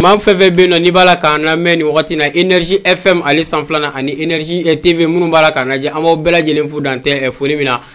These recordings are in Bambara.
Maa fɛn fɛn bɛ yen nɔ n'i b'a la k'an lamɛn nin wagati in na énergie FM ale sanfɛla na ani énergie TV minnu b'a la k'an lajɛ an b'aw bɛɛ lajɛlen fo dan tɛ foli min na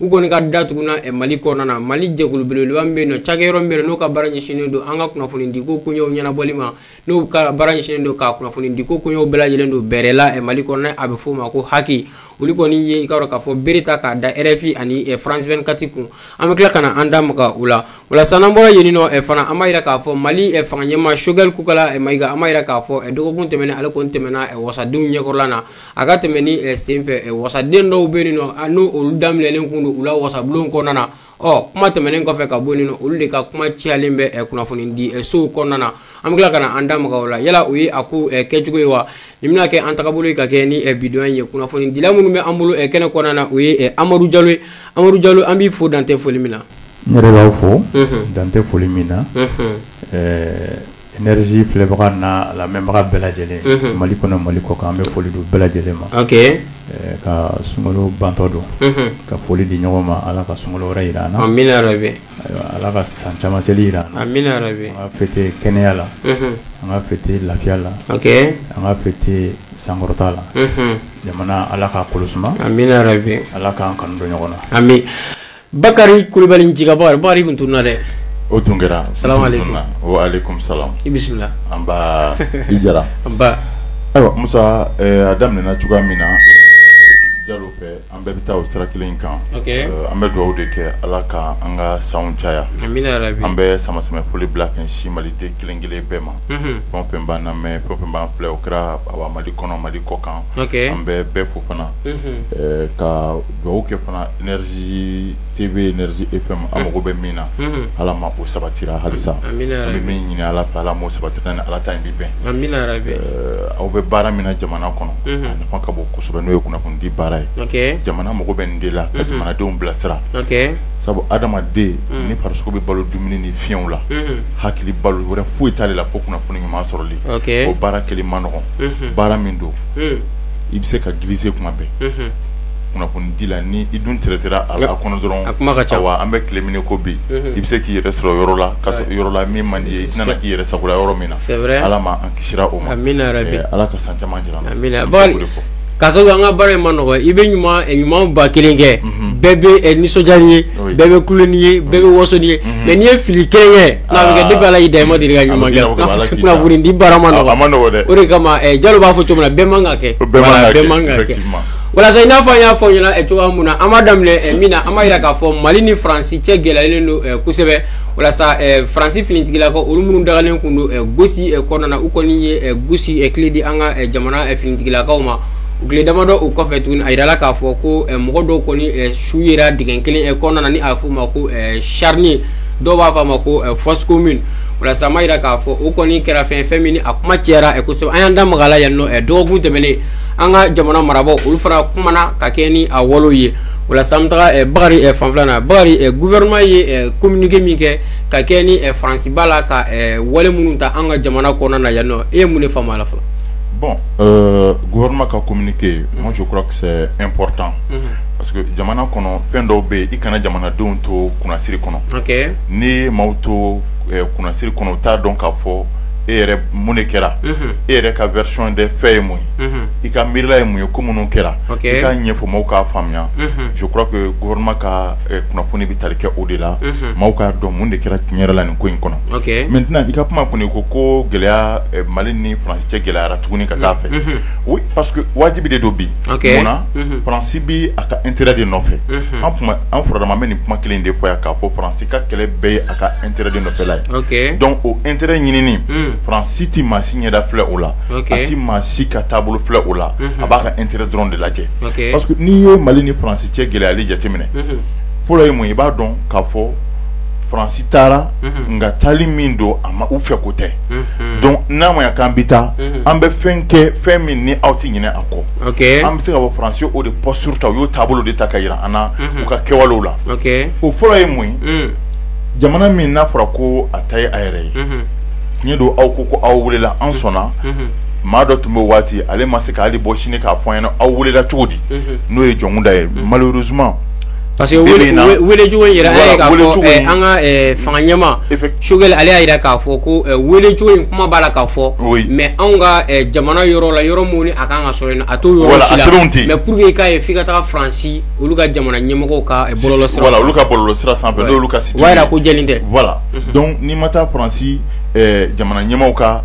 u kɔni ka datugunna eh, mali kɔnɔna na mali jɛkulu belebeleba min bɛ yen nɔ cakɛyɔrɔ min bɛ yen n'o ka baara ɲɛsinnen don an ka kunnafonidiko koɲɛw ɲɛnabɔli ma n'o ka baara ɲɛsinnen don ka kunnafonidiko koɲɛw bɛɛ lajɛlen don bɛrɛ la eh, mali kɔnɔna a bɛ f'o ma ko HAC olu kɔni ye i ka dɔn k'a fɔ bere ta k'a da rfi ani eh, france 24 kun an bɛ tila ka na an da maga u la o la sa n'an bɔra yen nɔ eh, fana an b'a yira k'a fɔ mali eh, fanga ɲɛmaa Choguel Kokalla eh, Maïga an b'a yira k'a fɔ eh, dɔgɔkun tɛmɛnen ale kɔni tɛmɛna eh, wasadenw ɲɛkɔrɔla na a ka tɛmɛni senfɛ wasaden dɔw bɛ yen nɔ n'olu da minɛlen tun don u la wasabulon kɔnɔna na ɔ kuma tɛmɛnen kɔfɛ ka bɔ yen nɔ olu de ka kuma cayalen bɛ kunnafonidisow kɔnɔna na an bɛ tila ka na an da maga o la yala o ye a ko kɛcogo ye wa nin bɛna kɛ an tagabolo ye ka kɛ ni bi don ye kunnafonidila minnu bɛ an bolo kɛnɛ kɔnɔna na o ye amadu jalo ye amadu jalo an b'i fo dan tɛ foli min na n yɛrɛ b'aw fo dan tɛ foli min na Energie filɛbaga n'a lamɛnbaga bɛɛ lajɛlen, unhun, Mali kɔnɔ Mali kɔkan an bɛ foli di u bɛɛ lajɛlen ma, ok, ɛɛ ka sunkalo bantɔ don, unhun, ka foli di ɲɔgɔn ma Ala ka sunkalo wɛrɛ jira an na, amina yarabi, ayiwa Ala ka san caman seli jira an na, amina yarabi, an ka fêter kɛnɛya la, unhun, an ka fêter lafiya la, ok, an ka fêter sankɔrɔta la, unhun, jamana Ala k'a kolo suma, amina yarabi, Ala k'an kanu don ɲɔgɔn na, amin Bakari kulubali jabaa bakari tun tununna dɛ o tun kɛra salamu alaikum wa alaikum salam i bisimila nba i jara ayiwa Musa a daminɛna cogoya min na Jalo fɛ an bɛɛ bɛ taa o sira kelen kan an bɛ dugawu de kɛ ala ka an ka san caya an bɛ sanbɛ sanbɛ foli bila ka ɲɛsin maliden kelen kelen bɛɛ ma fɛn fɛn b'an lamɛn fɛn fɛn b'an filɛ o kɛra mali kɔnɔ mali kɔkan an bɛ bɛɛ fo fana ka dugawu kɛ fana énergie TV énergie FM an mago bɛ min na Ala ma o sabatira halisa an bɛ min ɲini Ala fɛ Ala m'o sabatira ni Ala ta in bɛ bɛn aw bɛ baara min na jamana kɔnɔ a nafa ka bon kosɛbɛ n'o ye kunnafoni di baara ye jamana mago bɛ nin de la ka jamanadenw bilasira sabu hadamaden ni farisogo bɛ balo dumuni ni fiyɛnw la hakili balo wɛrɛ foyi t'ale la fo kunnafoni ɲuman sɔrɔli o baara kɛli man nɔgɔn baara min don i bɛ se ka glisser kuma bɛɛ. kunnafoni di la ni i dun tigɛ sira a la kɔnɔ dɔrɔn a kuma ka ca wa an bɛ tile min kɔrɔ bi i bɛ se k'i yɛrɛ sɔrɔ yɔrɔ la ka yɔrɔ la min man di i tɛna k'i yɛrɛ sagola yɔrɔ min na ala ma an kisi o ma ala ka san caman jira ka an ka baara in man nɔgɔ i bɛ ɲuman ɲuman ba kelen kɛ bɛɛ bɛ nisɔndiya n'i ye bɛɛ bɛ kulo n'i ye bɛɛ bɛ waso n'i ye mais n'i ye fili kelen kɛ depuis ala y'i da i ma deli ka ɲuman kɛ di baara ma o de kama jalo b'a fɔ cogo min na bɛɛ man ka kɛ walasa i n'a fɔ an y'a fɔ aw ɲɛna eh, cogoya mun na an b'a daminɛ eh, min na an b'a yira k'a fɔ mali ni faransi cɛ gɛlɛyalen don eh, kosɛbɛ walasa faransi finitigilakaw olu minnu dagalen kun don gosi kɔnɔna na u kɔni ye gosi kile di an ka jamana finitigilakaw ma o tile damadɔ o kɔfɛ tuguni a yirala k'a fɔ ko mɔgɔ dɔw kɔni su yera dingɛ kelen kɔnɔna na ni a bɛ f'o ma ko charnier dɔw b'a fɔ a ma ko fosse commune walasa an b'a yira k'a fɔ o kɔni kɛra fɛn fɛn min ni a kuma cayara kosɛbɛ an y'an da maga a la yan nɔ dɔgɔkun tɛmɛnen an ka jamana marabagaw olu fana kumana ka kɛ ni a wale ye walasa an bɛ taga bakari fanfɛla na bakari gouvernement ye communiqué min kɛ ka kɛ ni faransi b'a la ka wale minnu ta an ka jamana kɔnɔna na yan nɔ e ye mun de faamu a la fɔlɔ bon gouvernement ka communiqué moi je crois que c'est important parce que jamana kɔnɔ fɛn dɔw bɛ yen i kana jamanadenw to kunnasiri kɔnɔ n'i ye maaw to kunnasiri kɔnɔ u t'a dɔn k'a fɔ e yɛrɛ mun de kɛra e yɛrɛ ka version des faits ye mun ye i ka miirila ye mun ye ko minnu kɛra i k'a ɲɛfɔ maaw k'a faamuya je crois que gouvernement ka kunnafoni bɛ tali kɛ o de la maaw k'a dɔn mun de kɛra tiɲɛ yɛrɛ la nin ko in kɔnɔ maintenant i ka kuma kɔni ko ko gɛlɛya mali ni faransi cɛ gɛlɛyara tuguni ka taa fɛ oui parce que wajibi de don bi munna faransi bɛ a ka intérêt de nɔfɛ an furadama bɛ nin kuma kelen de fɔ yan k'a fɔ faransi i ka kɛlɛ bɛɛ ye a ka intérêt de nɔfɛla ye donc o intérêt ɲinini faransi tɛ maa si ɲɛda filɛ o la a tɛ maa si ka taabolo filɛ o la a b'a ka intérêt dɔrɔn de lajɛ parce que n'i ye mali ni faransi cɛ gɛlɛyali jateminɛ fɔlɔ ye mun ye i b'a dɔn k'a fɔ faransi taara nka taali min don a ma u fɛ ko tɛ donc n'a ma k'an bɛ taa an bɛ fɛn kɛ fɛn min ni aw tɛ ɲinɛ a kɔ an bɛ se ka bɔ faransi o de posture ta u y'o taabolo de ta ka jira an na u ka kɛwalew la o fɔlɔ ye mun ye jamana min n'a fɔra ko a ta ye a yɛrɛ ye tiɲɛ don aw ko ko aw welela an sɔnna maa dɔ tun bɛ waati ale ma se k'ale bɔ sini k'a fɔ an ɲɛna aw welela cogo di n'o ye jɔnkunda ye malheureusement Parce que welecogo in yɛrɛ ye an ka fanga ɲɛmaa choguel ale y'a jira k'a fɔ ko welecogo in kuma b'a la k'a fɔ mais anw ka jamana yɔrɔ la yɔrɔ min ni a kan ka sɔrɔ yen a t'o yɔrɔ si la mais pour que k'a ye f'i ka taa faransi olu ka jamana ɲɛmɔgɔw ka bɔlɔlɔ olu ka bɔlɔlɔ sira sanfɛ olu ka ko jɛlen tɛ voilà donc n'i ma taa faransi jamana ɲɛmaaw ka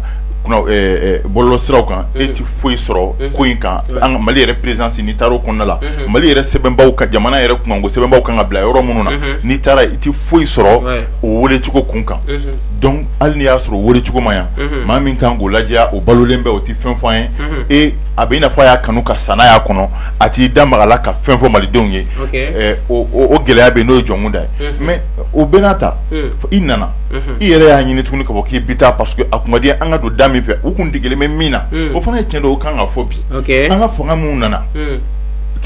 bɔlɔlɔ siraw kan e tɛ foyi sɔrɔ ko in kan mali yɛrɛ présidence n'i taara o kɔnɔna la mali yɛrɛ sɛbɛnbaw ka jamana yɛrɛ kunkanko sɛbɛnbaw kan ka bila yɔrɔ minnu na n'i taara i tɛ foyi sɔrɔ o welecogo kun kan donc hali n'i y'a sɔrɔ welecogo ma yan maa min kan k'o lajɛya o balolen bɛ o tɛ fɛn fɔ an ye ee a bɛ i n'a fɔ a y'a kanu ka sa n'a y'a kɔnɔ a t'i da maga la ka fɛn fɔ malidenw ye o gɛlɛya bɛ n'o ye Jɔnkunda ye mais o bɛɛ n'a ta i nana i yɛrɛ y'a ɲini tuguni ka fɔ k'i bɛ taa parce que a kun ka di an ka don da min fɛ u tun degelen bɛ min na o fana ye tiɲɛ don o kan ka fɔ bi an ka fanga minnu nana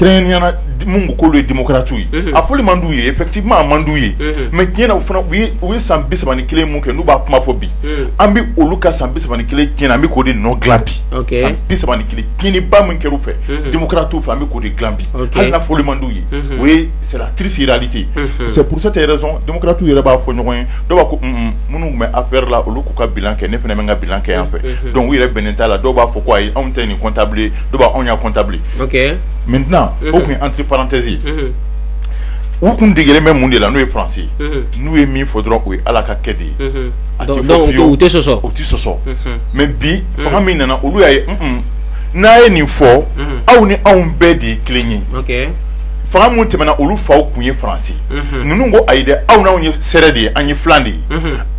kɛrɛnkɛrɛnnenya minnu ko k'olu ye démocrates ye a fɔli man d'u ye effectivement a man d'u ye mais tiɲɛ na u fana u ye san bisaba ni kelen mun kɛ n'u b'a kuma fɔ bi an bɛ olu ka san bisaba ni kelen tiɲɛni an bɛ k'o de nɔ dila bi san bisaba ni kelen tiɲɛniba min kɛra u fɛ démocrates fɛ an bɛ k'o de dila bi hali n'a fɔli man d'u ye o ye c'est la triste réalité c'est pour cette raison démocrates yɛrɛ b'a fɔ ɲɔgɔn ye dɔw b'a ko minnu tun bɛ affaire la olu k'u ka bilan kɛ ne fana bɛ n ka bilan kɛ yan fɛ donc u yɛrɛ bɛnnen t'a la dɔw b'a fɔ ko ayi anw tɛ nin comptable ye dɔw b'a anw y'a comptable ok maintenant o tun ye entre parenthèse u tun degelen bɛ mun de la n'o ye France ye n'u ye min fɔ dɔrɔn o ye Ala ka kɛ de ye a tɛ fɔ fiyewu u tɛ sɔsɔ u tɛ sɔsɔ mais bi fanga min nana olu y'a ye un n'a ye nin fɔ aw ni anw bɛɛ de ye kelen ye ok fanga minnu tɛmɛna olu faw tun ye France ye ninnu ko ayi dɛ aw n'anw ye sɛrɛ de ye an ye filan de ye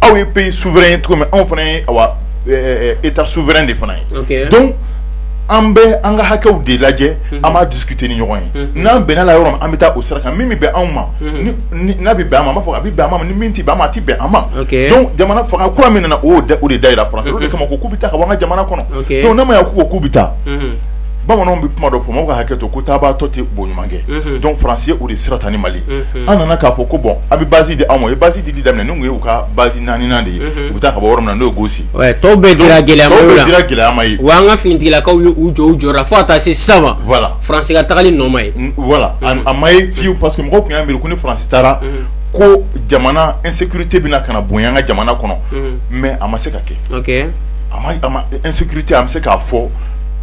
aw ye pays souverain ye cogo min anw fana ye awa état souverain de fana ye ok donc an bɛ an ka hakɛw de lajɛ an b'a discuter ni ɲɔgɔn ye n'an bɛnna yɔrɔ min an bɛ taa o sira kan min bɛ bɛn anw ma n'a bɛ bɛn an ma an b'a fɔ a bɛ bɛn an ma ni min tɛ bɛn an ma a tɛ bɛn an ma jamana fanga kura min nana o de da jira France o de kama k'u bɛ taa ka bɔ an ka jamana kɔnɔ n'a ma ɲɛ ko k'u bɛ taa bamananw bɛ kuma dɔ fɔ mɔgɔw ka hakɛ to ko taatɔ tɛ bo ɲuman kɛ donc France y'o de sira ta ni mali an nana k'a fɔ ko bon a bɛ base di anw ma u ye base di di daminɛ nin ye u ka base naaninan de ye u bɛ taa ka bɔ yɔrɔ min na n'o ye Gosi Tɔw bɛɛ dira gɛlɛya ma ye wa an ka finitigilakaw y'u jɔ u jɔra fo ka taa se sisan ma voilà faransi ka tagali nɔ ma ye voilà a ma ye fiyewu parce que mɔgɔ tun y'a miiri ko ni faransi taara ko jamana insécurité bɛna ka na bonya an ka jamana kɔnɔ mais a ma se ka kɛ insécurité a bɛ se k'a fɔ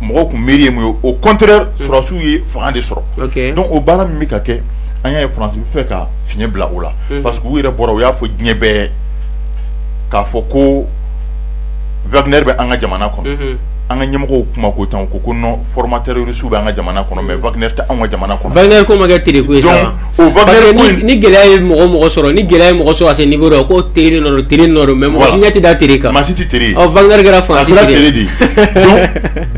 mɔgɔ tun miiri ye mun ye au contraire sɔrɔsiw ye fanga de sɔrɔ donc o baara min bɛ ka kɛ an y'a ye faransi bɛ fɛ ka fiɲɛ bila o la parce que u yɛrɛ bɔra u y'a fɔ diɲɛ bɛɛ k'a fɔ ko vtɛ bɛ an ka jamana kɔnɔ an ka ɲɛmɔgɔ kuma ko tan ko ko foromatɛrsu bɛ an ka jamana kɔnɔ mɛ vtɛ an ka jamana kɔnɔ ni gɛlɛya ye mɔgɔ mɔgɔ sɔrɔ ni gɛlɛya mɔgɔ sɔrɔ se nin bolo ko teri teri mɛ mɔgɔ ɲɛti da teri kan masi tɛre vkɛ fa de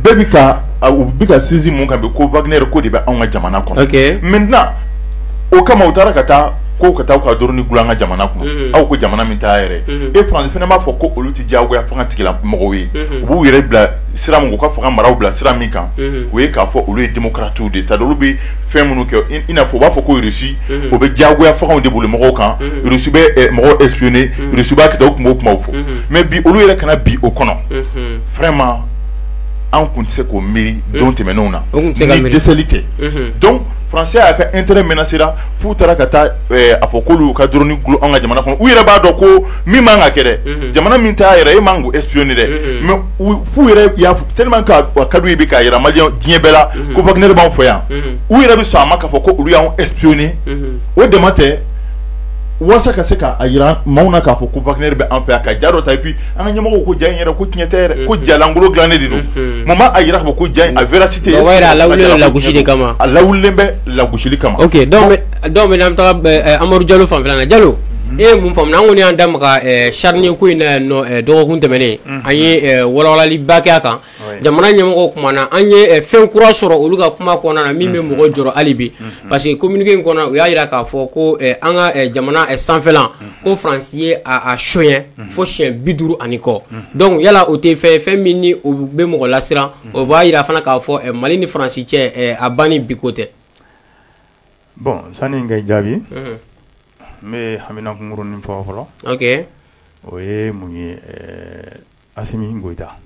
bɛɛ bɛ ka u bɛ ka sinsin min kan ko vtɛnɛ ko de bɛ an ka jamana kɔnɔ mɛ o kama u taara ka taa ko ka taa ka drone dulon an ka jamana kɔnɔ aw ko jamana min t'a yɛrɛ e faransi fana b'a fɔ ko olu tɛ diyagoya fanga tigila mɔgɔw ye u b'u yɛrɛ bila sira min u ka fanga maraw bila sira min kan o ye k'a fɔ olu ye démocrates de c'est-à-dire olu bɛ fɛn minnu kɛ i n'a fɔ u b'a fɔ ko russie o bɛ diyagoya fangaw de boli mɔgɔw kan russie bɛ mɔgɔw espionner russie b'a kɛ u tun b'o kuma fɔ mais bi olu yɛrɛ ka na bin o kɔnɔ vraiment an tun tɛ se k'o miiri don tɛmɛnenw na ni dɛsɛli tɛ donc faransi y'a ka intérêt menacé la f'u taara ka taa a fɔ k'olu ka drone dulon an ka jamana kɔnɔ u yɛrɛ b'a dɔn ko min man ka kɛ jamana min t'a yɛrɛ e man k'o espionner dɛ mais f'u yɛrɛ y'a fɔ tellement que a ka d'u ye bi k'a jira maliyɛn diɲɛ bɛɛ la ko wagner b'anw fɛ yan u yɛrɛ bɛ sɔn a ma k'a fɔ ko olu y'an espionner o dama tɛ walasa ka se k'a jira maaw na k'a fɔ ko wagner bɛ an fɛ yan ka ja dɔ ta et puis an ka ɲɛmɔgɔw ko ja in yɛrɛ ko tiɲɛ tɛ yɛrɛ ko ja lankolon dilannen de don mun b'a jira ko ja in a véracité a lawulilen lagosi de kama a lawulilen bɛ lagosili kama ok donc maintenant an bɛ taa amadu jalo fanfɛla la jalo e ye mun faamuya an kɔni y'an da maga charnier ko in na yan dɔgɔkun tɛmɛnen an ye walawalaliba kɛ a kan jamana ɲɛmɔgɔw kumana an ye fɛn kura sɔrɔ olu ka kuma kɔnɔna na min bɛ mɔgɔ jɔrɔ hali bi parce que communiqué in kɔnɔ u y'a jira k'a fɔ ko an ka jamana sanfɛlan ko faransi ye a sonyɛ fo siyɛn bi duuru ani kɔ donc yala o tɛ fɛn fɛn min o bɛ mɔgɔ lasiran o b'a jira fana k'a fɔ mali ni faransi cɛ a banni bi ko tɛ bon sani n k'a jaabi n bɛ haminanko kurunni fɔ fɔlɔ o ye mun ye asimi goyita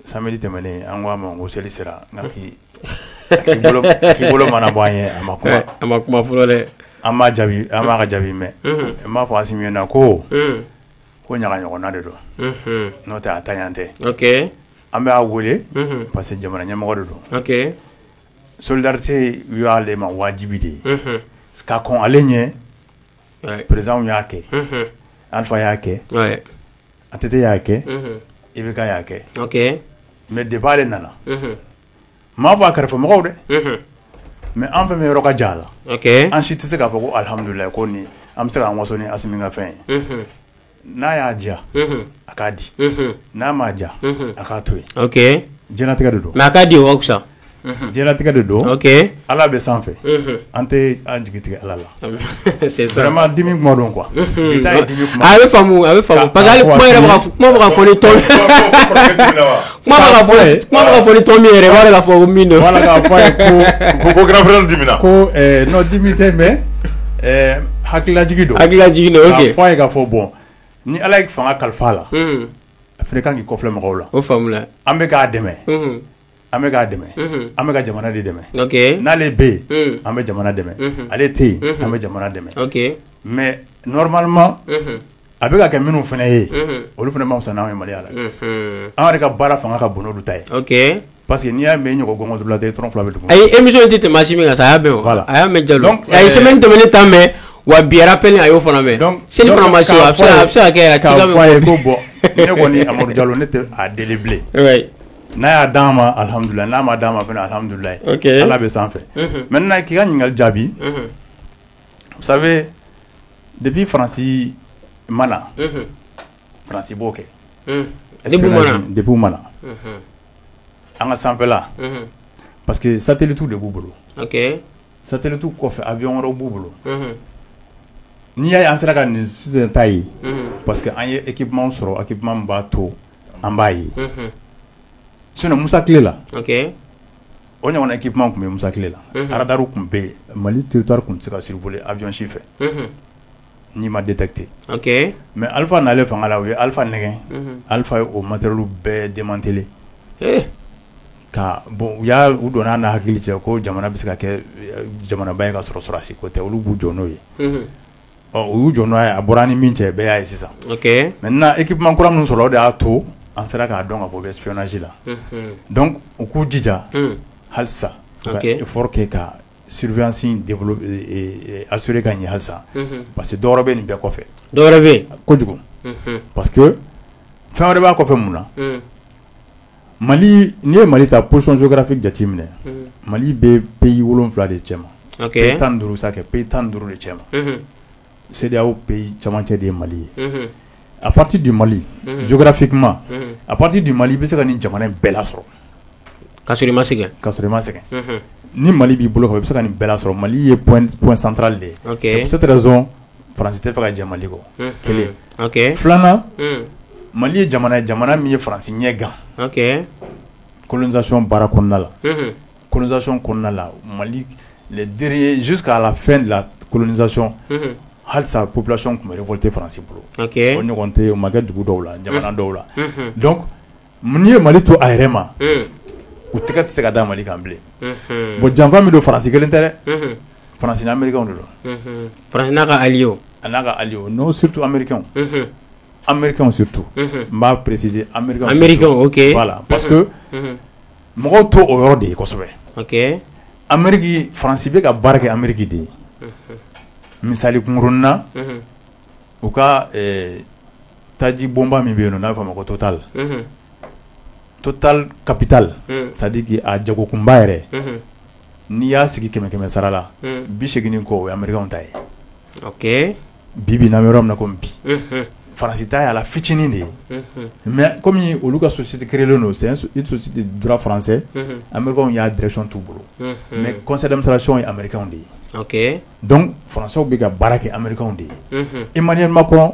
samedi tɛmɛnen an k'a ma ko seli sera a k'i bolo mɔɔnɔbɔ an ye a ma kuma fɔlɔ dɛ an m'a ka jaabi mɛn n b'a fɔ asimi na ko ko ɲaga ɲɔgɔnna de don n'o tɛ a taɲa tɛ an b'a weele parce que jamana ɲɛmɔgɔ de don solidarité y'ale ma wajibi de ye ka kɔn ale ɲɛ président y'a kɛ alpha y'a kɛ ATT y'a kɛ IBK y'a kɛ mais débat ale nana m'a fɔ a kɛrɛfɛ mɔgɔw dɛ mais an fɛn min yɔrɔ ka jan a la an si tɛ se k'a fɔ ko alihamudulila kɔni an bɛ se k'an waso ni asimi ka fɛn ye n'a y'a diya a k'a di n'a m'a diya a k'a to yen diɲɛlatigɛ de don mais a k'a di sa diɲɛlatigɛ de don ala bɛ sanfɛ an tɛ an jigi tigɛ ala la A bɛ hakililajigi don k'a fɔ a ye k'a fɔ bon ni ala ye fanga kalifa a la a fana ka kan k'i kɔfilɛ mɔgɔw la o an bɛ k'a dɛmɛ an bɛ k'a dɛmɛ an bɛ ka jamana de dɛmɛ n'ale bɛ yen an bɛ jamana dɛmɛ ale tɛ yen an bɛ jamana dɛmɛ mais normalement a bɛ ka kɛ minnu fana ye olu fana ma fisa n'an ye maliya la an yɛrɛ ka baara fanga ka bon n'olu ta ye parce que n'i y'a mɛn ɲɔgɔnla e dɔrɔn fila bɛ a émission tɛ tɛmɛ asimi kan a y'a la a y'a mɛn jalo a ye semaine tɛmɛnen ta mɛn wa bi rappel a y'o fana mɛn seli ma se a bɛ se ka kɛ k'a fɔ a ye ko bon ne kɔni amadu jalo ne tɛ a deli bilen n'a y'a d'an ma alihamududulila n'a ma d'an ma fana alihamududulila ala bɛ sanfɛ maintenant k'i ka ɲininkali jaabi depuis faransi ma na faransi b'o kɛ depuis ma an ka sanfɛla parce que satellite de b'u bolo satellite kɔfɛ avion wɛrɛw b'u bolo n'i y'a ye an sera ka nin ta ye parce que an ye équipement sɔrɔ équipement b'a to an b'a ye sinon musa tile la o ɲɔgɔnna équipement tun bɛ musa tile la radar tun bɛ mali territoire tun tɛ se ka survoler avion si fɛ n'i ma détecté mais alifa n'ale fanga la u ye alifa nɛgɛn alifa ye o matériel bɛɛ démanteler ka bɔn u y'a u donna n'a hakili cɛ ko jamana bɛ se ka kɛ jamanaba ye ka sɔrɔ sɔrɔdasi ko tɛ olu b'u jɔ n'o ye ɔ u y'u jɔ n'o ye a bɔra an ni min cɛ bɛɛ y'a ye sisan ok maintenant équipement kura minnu sɔrɔla o de y'a to an sera k'a dɔn k'a fɔ u bɛ espionnage la, unhun, donc u k'u jija halisa u ka effort kɛ ka surveillance in développer assurer ka ɲɛ halisa, unhun, parce que dɔ wɛrɛ bɛ nin bɛɛ kɔfɛ, dɔ wɛrɛ bɛ yen, kojugu, unhun, parce que fɛn wɛrɛ b'a kɔfɛ mun na mali n'i ye mali ta position géographique jateminɛ mali bɛ pays wolo wolonwula de cɛ ma pays tan ni duuru sa pays tan ni duuru de cɛ ma CEDEAO pays camancɛ de ye mali ye à partir du mali géographiquement à partir du mali i bɛ se ka nin jamana bɛɛ lasɔrɔ ka i ma sɛgɛn ka i ma sɛgɛn ni mali b'i bolo i bɛ se ka nin bɛɛ sɔrɔ mali ye point central de ye c'est faransi tɛ fɛ ka jɛn mali kɔ kelen filanan mali ye jamana ye jamana min ye faransi ɲɛ gan colonisation baara kɔnɔna la colonisation kɔnɔna la mali les derniers jusqu'à la fin de la colonisation halisa population tun bɛ révolté faransi bolo o ɲɔgɔn tɛ o ma kɛ dugu dɔw la jamana dɔw la N'i ye mali to a yɛrɛ ma u tɛgɛ tɛ se ka da mali kan bilen bon janfa min don faransi kelen tɛ dɛ faransi ni ameriki don faransi n'a ka alliés a n'a ka alliés non surtout ameriki ameriki surtout n b'a préciser ameriki voilà parce que mɔgɔw t'o yɔrɔ de ye kosɛbɛ ameriki faransi bɛ ka baara kɛ ameriki de ye misali kunkurunnin na u ka taji bɔnba min bɛ yen n'a fɔ ma ko totali to tali kapitali sadiki a jago kunba yɛrɛ n'i y'a sigi kɛmɛ kɛmɛ sara la bi segin kɔ o ye mari ta ye bi bɛ na yɔrɔ min ko bi farasi t' yala fitinin de ye mɛ kɔmi olu ka sosite kelenlen don susite duranse anw y'a dreson tu bolo mɛ kɔsadamisasion ye anriw de ye dɔnku faraso bɛ ka baara kɛ anriw de ye i ma ɲɛ ma kɔnɔ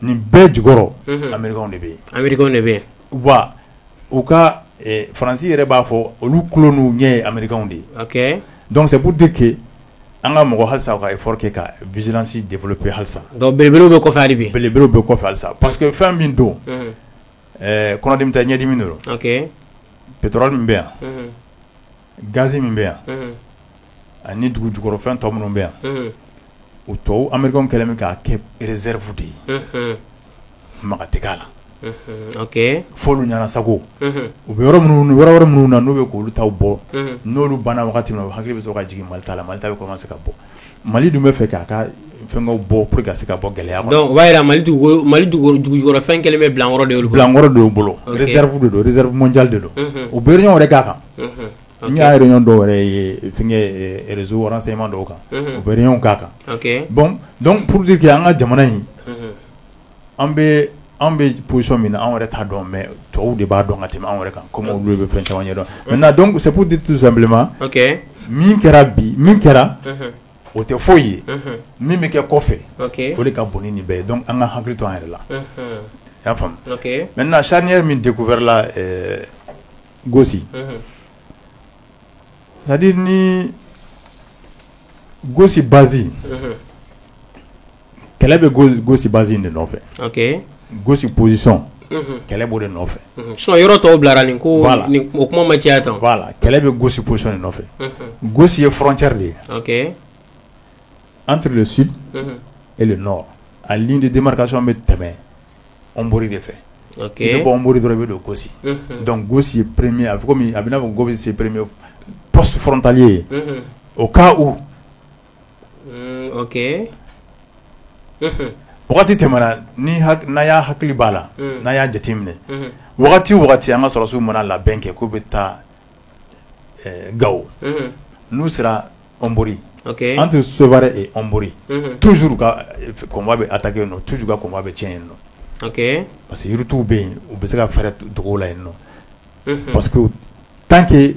nin bɛɛ jukɔrɔ anw de bɛ de bɛ wa u ka faransi yɛrɛ b'a fɔ olu kolon n'u ɲɛ ye anw de ye dɔnkisɛbu de kɛ an ka mɔgɔ halisa ka kɛ ka vizsi de pe halisa belew bɛ kɔfɛ de bɛ belew bɛ kɔfɛ halisa pa que fɛn min don kɔnɔden bɛ taa ɲɛdimi dɔrɔn ptura min bɛ yan gaz min bɛ yan, unhun, ani dugu jukɔrɔfɛn tɔ minnu bɛ yan, unhun, o tɔw Américains kɛlen bɛ k'a kɛ réserve de ye, unhun, maga tɛ k'a la, unhun, ok, f'olu ɲɛna sago, unhun, u bɛ yɔrɔ minnu yɔrɔ wɛrɛ minnu na n'u bɛ k'olu taw bɔ, unhun, n'olu banna wagati min na u hakili bɛ sɔrɔ ka jigin Mali ta la Mali ta bɛ commencer ka bɔ Mali dun bɛ fɛ k'a ka fɛnkɛw bɔ pour que ka se ka bɔ gɛlɛya kɔnɔ, donc o b'a jira Mali dugu Mali dugu dugujukɔrɔfɛn kɛlen bɛ bilankɔrɔ de ye olu bolo, bilankɔrɔ de y'u bolo, ok, réserve de don réserve mondiale de don, unhun, u bɛ réunion wɛrɛ k'a kan, unhun, n y'a réunion dɔw yɛrɛ ye fɛnkɛ réseau renseignements dɔw kan, unhun, u bɛ réunion k'a kan, ok, bon donc pour dire que an ka jamana in an bɛ anw bɛ position min na anw yɛrɛ t'a dɔn mais tɔw de b'a dɔn ka tɛmɛ anw yɛrɛ kan kɔmi olu bɛ fɛn caman ɲɛ dɔn maintenant donc c'est pour dire tout simplement min kɛra bi min kɛra o tɛ foyi ye min bɛ kɛ kɔfɛ o de ka bon ni nin bɛɛ ye donc an ka hakili to an yɛrɛ la y'a faamuya maintenant charnière min découvert la Gossi c'est-à-dire ni Gossi base kɛlɛ bɛ gosi bas de nɔfɛ gosi bolisɔn kɛlɛ bɔ de nɔfɛ so yɔrɔ tɔw bilara nin ko la o kuma ma caya tan la kɛlɛ bɛ gosi bolisɔn nɔfɛ gosi ye fcɛri de ye an tsi e a de denmakaso bɛ tɛmɛ anwuriri de fɛ bɔɔnuru dɔrɔn bɛ don gosi dɔnku gosi ye perereme a bɛ a bɛna fɔ go bɛ se perereme psitali ye o k' u Wagati tɛmɛna n'a y'a hakili b'a la n'a y'a jate minɛ wagati o wagati an ka sɔrɔsiw mana labɛn kɛ k'u bɛ taa Gao n'u sera Hombori entre Sévaré et Hombori toujours convoi bɛ attaquer yen toujours u ka convoi bɛ cɛn yen nɔ parce que yirituw bɛ yen u bɛ se ka fɛɛrɛ dugu la yen nɔ parce que tant que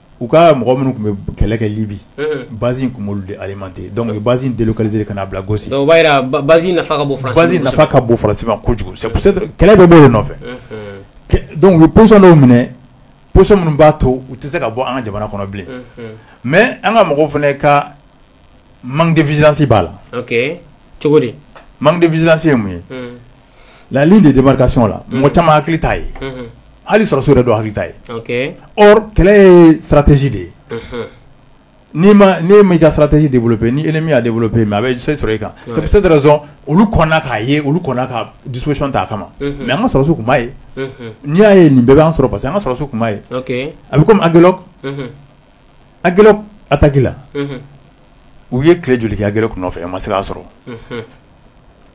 u ka mɔgɔ minnu tun bɛ kɛlɛ kɛ Libi base tun b'olu de alimenter donc u ye base délocaliser ka n'a bila Gossi o b'a jira base nafa ka nafa ka bon Faransi ma kojugu kɛlɛ bɛ b'o de nɔfɛ donc u ye position dɔw minɛ position minnu b'a to u tɛ se ka bɔ an ka jamana kɔnɔ bilen mais an ka mɔgɔw fana ka manque de vigilance b'a la cogo di manque de vigilance ye mun ye La de de la mɔgɔ caman hakili ta ye hali sɔrɔso yɛrɛ don hakili ta ye kɛlɛ ye saratɛsi de ye ni ma ka saratɛsi de bolo pe ni e min de bolo pe yen a bɛ se sɔrɔ e kan sabu olu k'a ye olu ka disɔn ta a kama mɛ an ka sɔrɔso tun ye n'i y'a ye nin bɛɛ bɛ'a sɔrɔ parce que an ka sɔrɔso tun ye a bɛ kɔmi a g a taki la u ye tile joli kɛ a g nɔfɛ a ma se k' sɔrɔ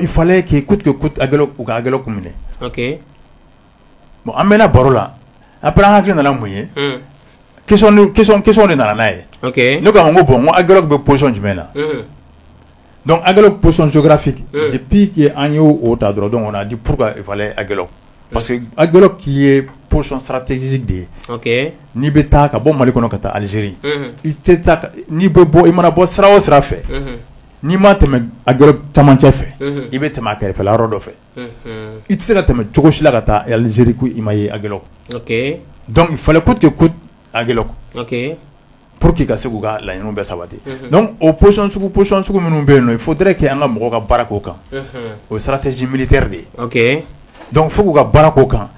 i fa k'i ku tigɛ kun minɛ bon an bɛ baro la a bɛ an hakili nana mun ye de nana n'a ye ne k'an ko bɔn ko bɛ psɔn jumɛn na dɔnku a psɔnsorafi pki an y'o ta dɔrɔn dɔn kɔnɔ di gɛlɛn parce que a k'i ye psɔn sara tɛsi de ye n'i bɛ taa ka bɔ mali kɔnɔ ka taa alizeri i tɛ bɔ i mana bɔ sira o sira fɛ n'i ma tɛmɛ a camancɛ fɛ i bɛ tɛmɛ a kɛrɛfɛ yɔrɔ dɔ fɛ i tɛ se ka tɛmɛ cogo sila ka taa alize ko i ma ye a dɔnku falen ko tɛ ko a pour que ka se k' ka laɲini bɛ sabati o psɔn psɔn sugu minnu bɛ yen yen fo tɛ kɛ an ka mɔgɔ ka baara ko kan o sara tɛ zbiri tɛ de ye dɔnku fo k'u ka baara ko kan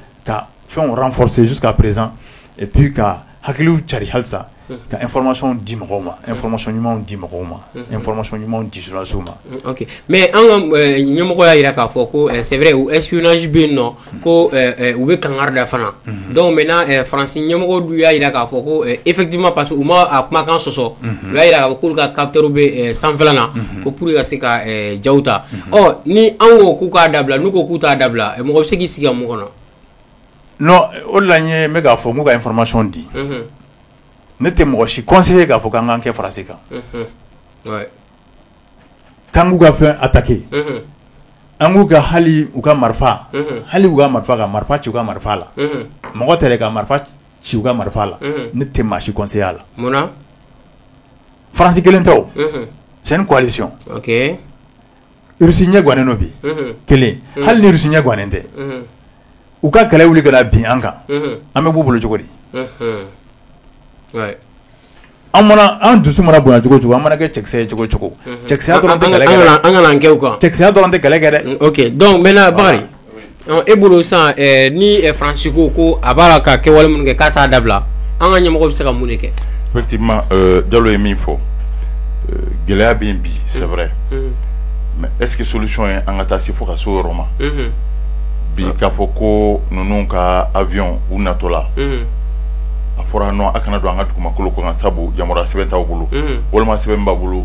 fɛnw renforcer jusqu'à présent et puis ka hakiliw carin halisa ka information di mɔgɔw ma information ɲumanw di mɔgɔw ma information ɲumanw di journalistes ma ok mais an ka ɲɛmɔgɔ y'a jira k'a fɔ ko c'est vrai ko espionnage bɛ yen nɔ ko u bɛ kangari da fana donc maintenant Faransi ɲɛmɔgɔw dun y'a jira k'a fɔ ko effectivement parce que u ma a kumakan sɔsɔ u y'a jira k'a fɔ k'olu ka capteurs bɛ sanfɛla la ko pour que ka se ka jaw ta ɔ ni an ko k'u k'a dabila n'u ko k'u t'a dabila mɔgɔ bɛ se k'i sigi ka mun kɔnɔ o de la n ye n bɛ k'a fɔ n k'u ka information di ne tɛ mɔgɔ si conseiller k'a fɔ k'an kɛ France kan k'an k'u ka fɛn attaquer an k'u ka hali u ka marifa hali u ka marifa ka marifa ci u ka marifa la mɔgɔ tɛ ka marifa ci u ka marifa la ne tɛ maa si conseiller a la France kelen tɛ c'est une coalition Russie ɲɛ gannen don bi kelen hali ni Russie ɲɛ gannen tɛ u ka kɛlɛ wuli ka na bin an kan an bɛ b'u bolo cogo di an dusu mana bonya cogo cogo an mana kɛ cɛkisɛ ye cogo cogo cɛkisɛya dɔrɔn tɛ kɛlɛ kɛ dɛ an kana an kɛ o kan cɛkisɛya dɔrɔn tɛ kɛlɛ kɛ dɛ donc maintenant E bolo san ni faransi ko ko a b'a la ka kɛwale minnu kɛ k'a t'a dabila an ka ɲɛmɔgɔ bɛ se ka mun de kɛ effectivement jalo ye min fɔ gɛlɛya bɛ bi c'est vrai mais est-ce que solution ye an ka taa se fo ka se o yɔrɔ ma bi k'a fɔ ko ninnu ka avion u natɔ la a fɔra non a kana don an ka dugumakolo kɔnɔ sabu yamaruya sɛbɛn t'aw bolo walima sɛbɛn b'aw bolo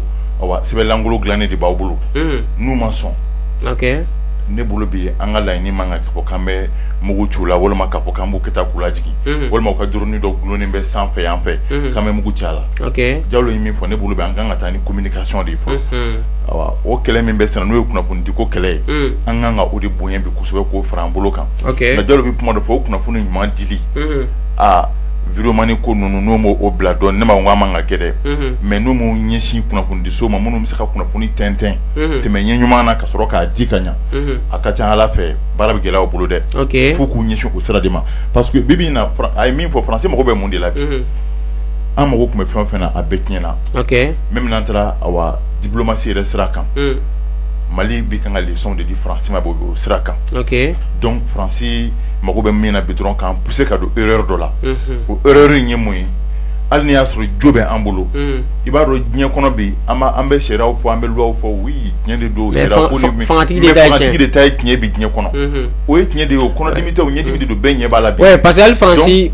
sɛbɛn lankolon dilannen de b'aw bolo n'u ma sɔn ne bolo bi an ka laɲini man kan k'a fɔ k'an bɛ mugu ci u la walima k'a fɔ k'an b'u kɛ k'u lajigin walima u ka drone dɔ dulonnen bɛ sanfɛ yan fɛ k'an bɛ mugu ci a la jalo ye min fɔ ne bolo bi an kan ka taa ni communication de ye fɔlɔ o kɛlɛ min bɛ sen na n'o ye kunnafoni di ko kɛlɛ ye an kan ka o de bonya bi kosɛbɛ k'o fara an bolo kan jalo bɛ kuma dɔ fɔ o kunnafoni ɲuman di aa vidéomani ko ninnu n'u ma o bila dɔn ne ma ko an man ka kɛ dɛ mais n'u m'u ɲɛsin kunnafonidiso ma minnu bɛ se ka kunnafoni tɛntɛn tɛmɛ ɲɛ ɲuman na ka sɔrɔ k'a di ka ɲɛ a ka ca ala fɛ baara bɛ gɛlɛya u bolo dɛ fo u k'u ɲɛsin o sira de ma parce que bi in na a ye min fɔ faransi mago bɛ mun de la bi an mago tun bɛ fɛn o fɛn na a bɛɛ tiɲɛna même n'an taara awa diplomatie yɛrɛ sira kan mali bɛ kan ka leçon de di faransi ma bɔ o sira kan donc faransi mago bɛ min na bi dɔrɔn k'an pousser ka don erreur dɔ la o erreur in ye mun ye hali ni y'a sɔrɔ jo bɛ an bolo i b'a dɔn diɲɛ kɔnɔ bi an bɛ sariyaw fɔ an bɛ luwaw fɔ oui tiɲɛ de don fangatigi de ta ye tiɲɛ bi diɲɛ kɔnɔ o ye tiɲɛ de ye o kɔnɔdimi tɛ o ɲɛdimi de don bɛɛ ɲɛ b'a la bi parce que hali faransi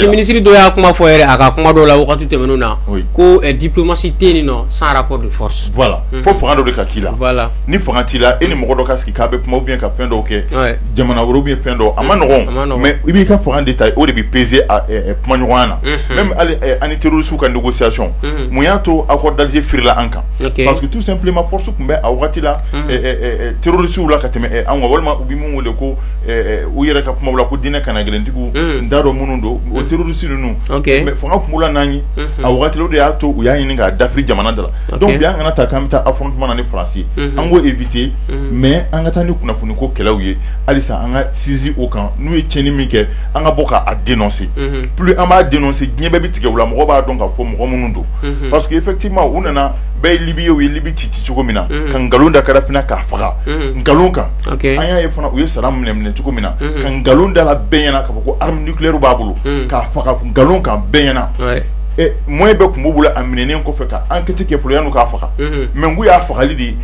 minisiri dɔ y'a kuma fɔ yɛrɛ a ka kuma dɔw la waati tɛmɛnen na ko diplomatie tɛ yen non sans rapport de force voilà fo fanga dɔ de ka k'i la voilà ni fanga t'i la e ni mɔgɔ dɔ ka sigi k'a bɛ kuma ou bien ka fɛn dɔw kɛ jamana wɛrɛw ou bien fɛn dɔ a man nɔgɔn mais i b'i ka fanga de ta o de bɛ peser kumaɲɔgɔnya na même hali an ni terroristes ka négociation mun y'a to accord d'Alger firila an kan parce que tout simplement force tun bɛ a waati la terroristes la ka tɛmɛ an kan walima u bɛ min wele ko u yɛrɛ ka kuma la ko diinɛ kanagɛlɛntigiw n t'a dɔn minnu don o terroristes ninnu fanga tun b'u la n'an ye a waati la o de y'a to u y'a ɲini k'a dafiri jamana da la donc bi an kana ta k'an bɛ taa affrontement na ni faransi an k'o éviter mais an ka taa ni kunnafoni ko kɛlɛw ye halisa an ka sinsin o kan n'u ye tiɲɛni min kɛ an ka bɔ k'a dénoncer plus an b'a dénoncer diɲɛ bɛɛ bɛ tigɛ u la mɔgɔ b'a dɔn k'a fɔ mɔgɔ minnu don parce que effectivement u nana bɛɛ ye libi ye u ye libi ci ci cogo min na ka nkalon da kadafi na k'a faga nkalon kan an y'a ye fana u ye saddam minɛ minɛ cogo min na ka nkalon da a la bɛɛ ɲɛ na k'a fɔ ko arme nucléaire b'a bolo k'a faga nkalon kan bɛɛ ɲɛ na moyen bɛɛ tun b'u bolo a minɛnen kɔfɛ ka enquête kɛ fɔlɔ yan'u k'a faga mais y'a fagali de ye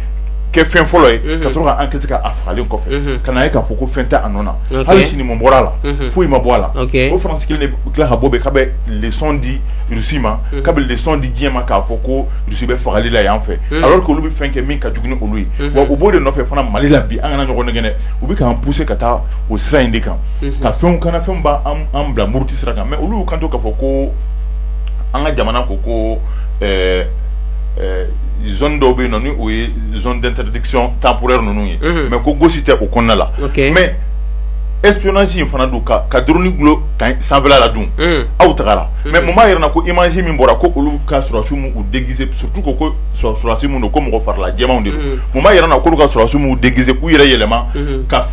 kɛ fɛn fɔlɔ ye ka sɔrɔ ka enquête k'a fagalen kɔfɛ ka k'a fɔ ko fɛn tɛ a nɔ na hali sini mun bɔra a la foyi ma bɔ a la o tila ka bɔ bɛ k'a bɛ leçon di Russie ma k'a bɛ leçon di diɲɛ ma k'a fɔ ko Russie bɛ fagali la yan fɛ alors que olu bɛ fɛn kɛ min ka jugu ni olu ye wa u b'o de nɔfɛ fana mali la bi an kana ɲɔgɔn nɛgɛn u bɛ k'an pousser ka taa o sira in de kan ka fɛn kana fɛn b'an bila muruti sira kan mais olu y'u kanto k'a fɔ ko an ka jamana ko ko zone dɔw bɛ yen nɔ ni o ye zone d'interdiction temporaire ninnu ye mais ko Gossi tɛ o kɔnɔna la mais espionnage in fana don ka drone dulon camp in sanfɛla la dun aw tagara mais mun b'a jira an na ko image min bɔra ko olu ka sɔrɔdasiw m'u déguiser surtout ko ko sɔrɔdasi minnu don ko mɔgɔ farila jɛmanw de don mun b'a jira an na k'olu ka sɔrɔdasiw m'u déguiser k'u yɛrɛ yɛlɛma ka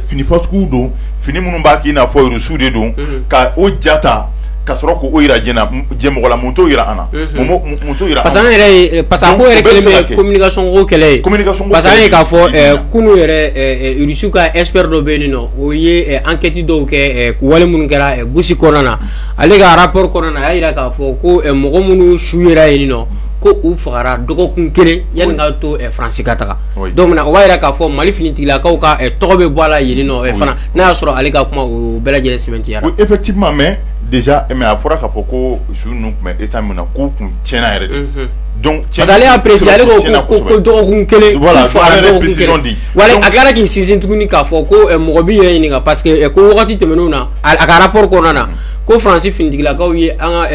fini fasuguw don fini minnu b'a kɛ i n'a fɔ Rusiw de don ka o ja ta ka sɔrɔ k'o jira diɲɛ na diɲɛ mɔgɔ la mun t'o jira an na mun t'o jira parce que an yɛrɛ parce que a ko yɛrɛ kɛlen bɛ communication ko kɛlɛ ye an y'a ye k'a fɔ kunu yɛrɛ Rusiw ka expert dɔ bɛ yen nɔ o ye enquête dɔw kɛ wale minnu kɛra Gossi kɔnɔna na ale ka rapport kɔnɔna na a y'a jira k'a fɔ ko mɔgɔ minnu su yera yen nɔ ko u fagara dɔgɔkun kelen yanni ka to faransi ka taga donc o b'a jira k'a fɔ mali finitigilakaw ka tɔgɔ bɛ bɔ a la yen nɔ fana n'a y'a sɔrɔ ale ka kuma o bɛɛ lajɛlen sɛmɛntiyara effectivement mais déjà mais a fɔra k'a fɔ ko su ninnu tun bɛ état min na k'u kun tiɲɛna yɛrɛ de parce que ale y'a préciser ale ko dɔgɔkun kelen a tilara k'i sinsin tuguni k'a fɔ ko mɔgɔ b'i yɛrɛ ɲininka parce que ko wagati tɛmɛnenw na a ka rapport kɔnɔna na ko faransi finitigilakaw ye an ka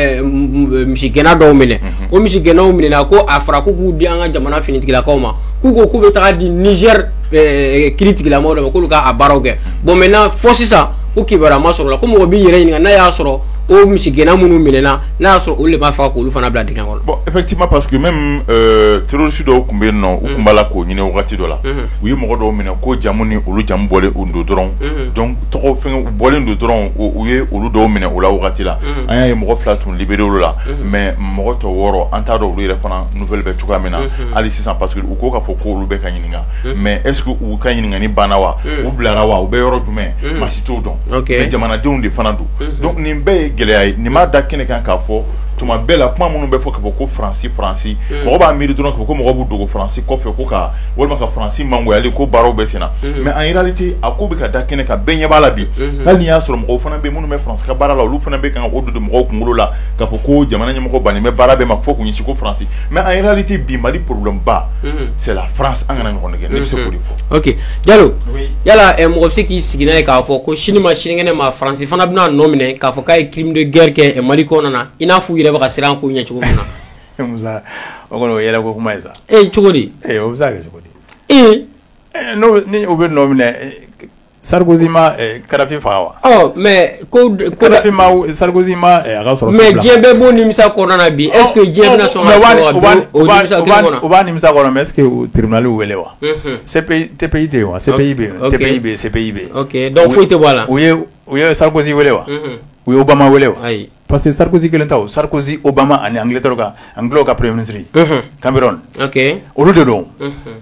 misigɛnna dɔw minɛ o misigɛnnaw minɛna ko a fɔra ko k'u di an ka jamana finitigilakaw ma k'u ko k'u bɛ taa di Niger kiiritigɛla mɔgɔw de ma k'olu k'a baaraw kɛ bon maintenant fo sisan ko kibaruya ma sɔrɔ la ko mɔgɔ b'i yɛrɛ ɲininka n'a y'a sɔrɔ o misigɛnna minnu minɛna n'a y'a sɔrɔ olu de b'a fɔ k'olu fana bila dingɛ kɔnɔ effectivement parce que même terroriste dɔw tun bɛ yen nɔ u tun b'a la k'o ɲini wagati dɔ la u ye mɔgɔ dɔw minɛ ko jamu ni olu jamu bɔlen don dɔrɔn tɔgɔ bɔlen don dɔrɔn u ye olu dɔw minɛ o la wagati la an y'a ye mɔgɔ fila tun libéré olu la mais mɔgɔ tɔ wɔɔrɔ an t'a dɔn olu yɛrɛ fana nouvelle bɛ cogoya min na hali sisan parce que u ko k'a fɔ ko olu bɛ ka ɲini mais est-ce que u ka ɲininkali banna wa u bilara wa u bɛ yɔrɔ jumɛn maa si t'o dɔn jamanadenw de fana don nin bɛɛ ye gɛlɛya ye nin b'a da kɛnɛ kan k'a fɔ tuma bɛɛ la kuma minnu bɛ fɔ k'a fɔ ko faransi faransi mɔgɔ b'a miiri dɔrɔn ko ko mɔgɔ b'u dogo faransi kɔfɛ ko ka walima ka faransi mangoya ko baaraw bɛ sen na mais en réalité a ko bɛ ka da kɛnɛ kan bɛɛ ɲɛ b'a la bi hali n'i y'a sɔrɔ mɔgɔw fana bɛ minnu bɛ faransi ka baara la olu fana bɛ kan k'o don mɔgɔw kunkolo la k'a fɔ ko jamana ɲɛmɔgɔ bannen bɛ baara bɛɛ ma fo k'u ɲɛsin ko faransi mais en réalité bi mali pba c'est la France an kana ɲɔgɔn nɛgɛn ne bɛ se k'o de fɔ oke Diallo yala mɔgɔ bɛ se k'i sigi n'a ye k'a fɔ ko sini ma sinikɛnɛ ma faransi fana bɛna nɔ minɛ k'a fɔ k'a ye crime de guerre kɛ mali kɔnɔna na i n'a fɔ u yɛrɛ bɛ ka siran ko ɲɛ cogo min na o kɔni yɛlɛko kuma ye sa cogo di o bɛ se ka kɛ cogo di ee n' bɛ nɔ minɛ Sarkozy ma Kadhafi faga wa? Ɔ mais ko de ko dɔ Kadhafi ma w Sarkozy ma ɛ a ka sɔrɔ mais diɲɛ bɛɛ b'o nimisa kɔnɔna na bi est ce que diɲɛ bɛna sɔn ka mais o b'a o b'a o b'a o b'a nimisa kɔnɔ mais est ce que o tribunal y'u wele wa unhun CPI TPI tɛ yen wa CPI bɛ yen ok TPI bɛ yen CPI bɛ yen ok donc foyi tɛ bɔ a la u ye u ye Sarkozy wele wa unhun u ye Obama wele wa ayi parce que Sarkozy 1 tɛ o Sarkozy Obama ani Angleterre ka Anglaisw ka premier ministre unhun Cameron ok olu de don unhun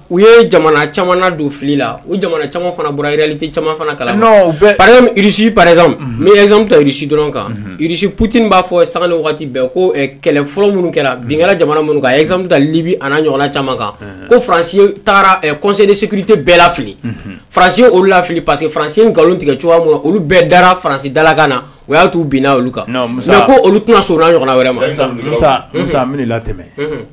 u ye jamana caman don fili la u jamana caman fana bɔra réalité caman fana kalama irisi par exemple n bɛ exemple ta irisi dɔrɔn kan irisi Poutine b'a fɔ sanga ni waati bɛɛ ko kɛlɛ fɔlɔ minnu kɛra bin kɛra jamana minnu kan exemple ta libi a ɲɔgɔnna caman kan ko faransi taara conseil de sécurité bɛɛ lafili faransi ye olu lafili parce que faransi ye nkalon tigɛ cogoya min olu bɛɛ dara faransi dalakan na o y'a to u binna olu kan mais ko olu tɛna sɔn a ɲɔgɔnna wɛrɛ ma la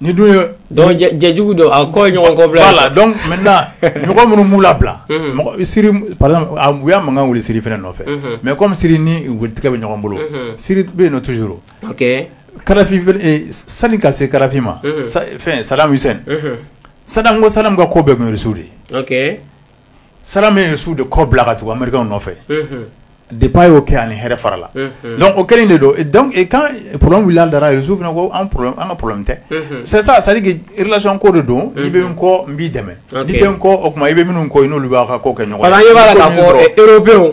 ni dun yejugu don a kɔ ɲɔgɔn kɔ bila la dɔn mɔgɔ minnu b'u la bila uya makan wuli siri fana nɔfɛ mɛ kɔmi siri ni tigɛ bɛ ɲɔgɔn bolo siri bɛ yen nɔ tuur sanu ka se kalafi ma fɛn samisɛn sa ko sanu ka ko bɛɛsu de sara min ye su de kɔ bila ka tugu anmeri nɔfɛ de ba y'o kɛ ani hɛrɛ fara la o kɛlen de don wulila dara ye su fana ko an ka pme tɛ sisan sari ilasɔn ko de don i bɛ kɔ n b'i dɛmɛ kɔ o tuma i bɛ minnu kɔ n'olu b'a kɛ ɲɔgɔn b'a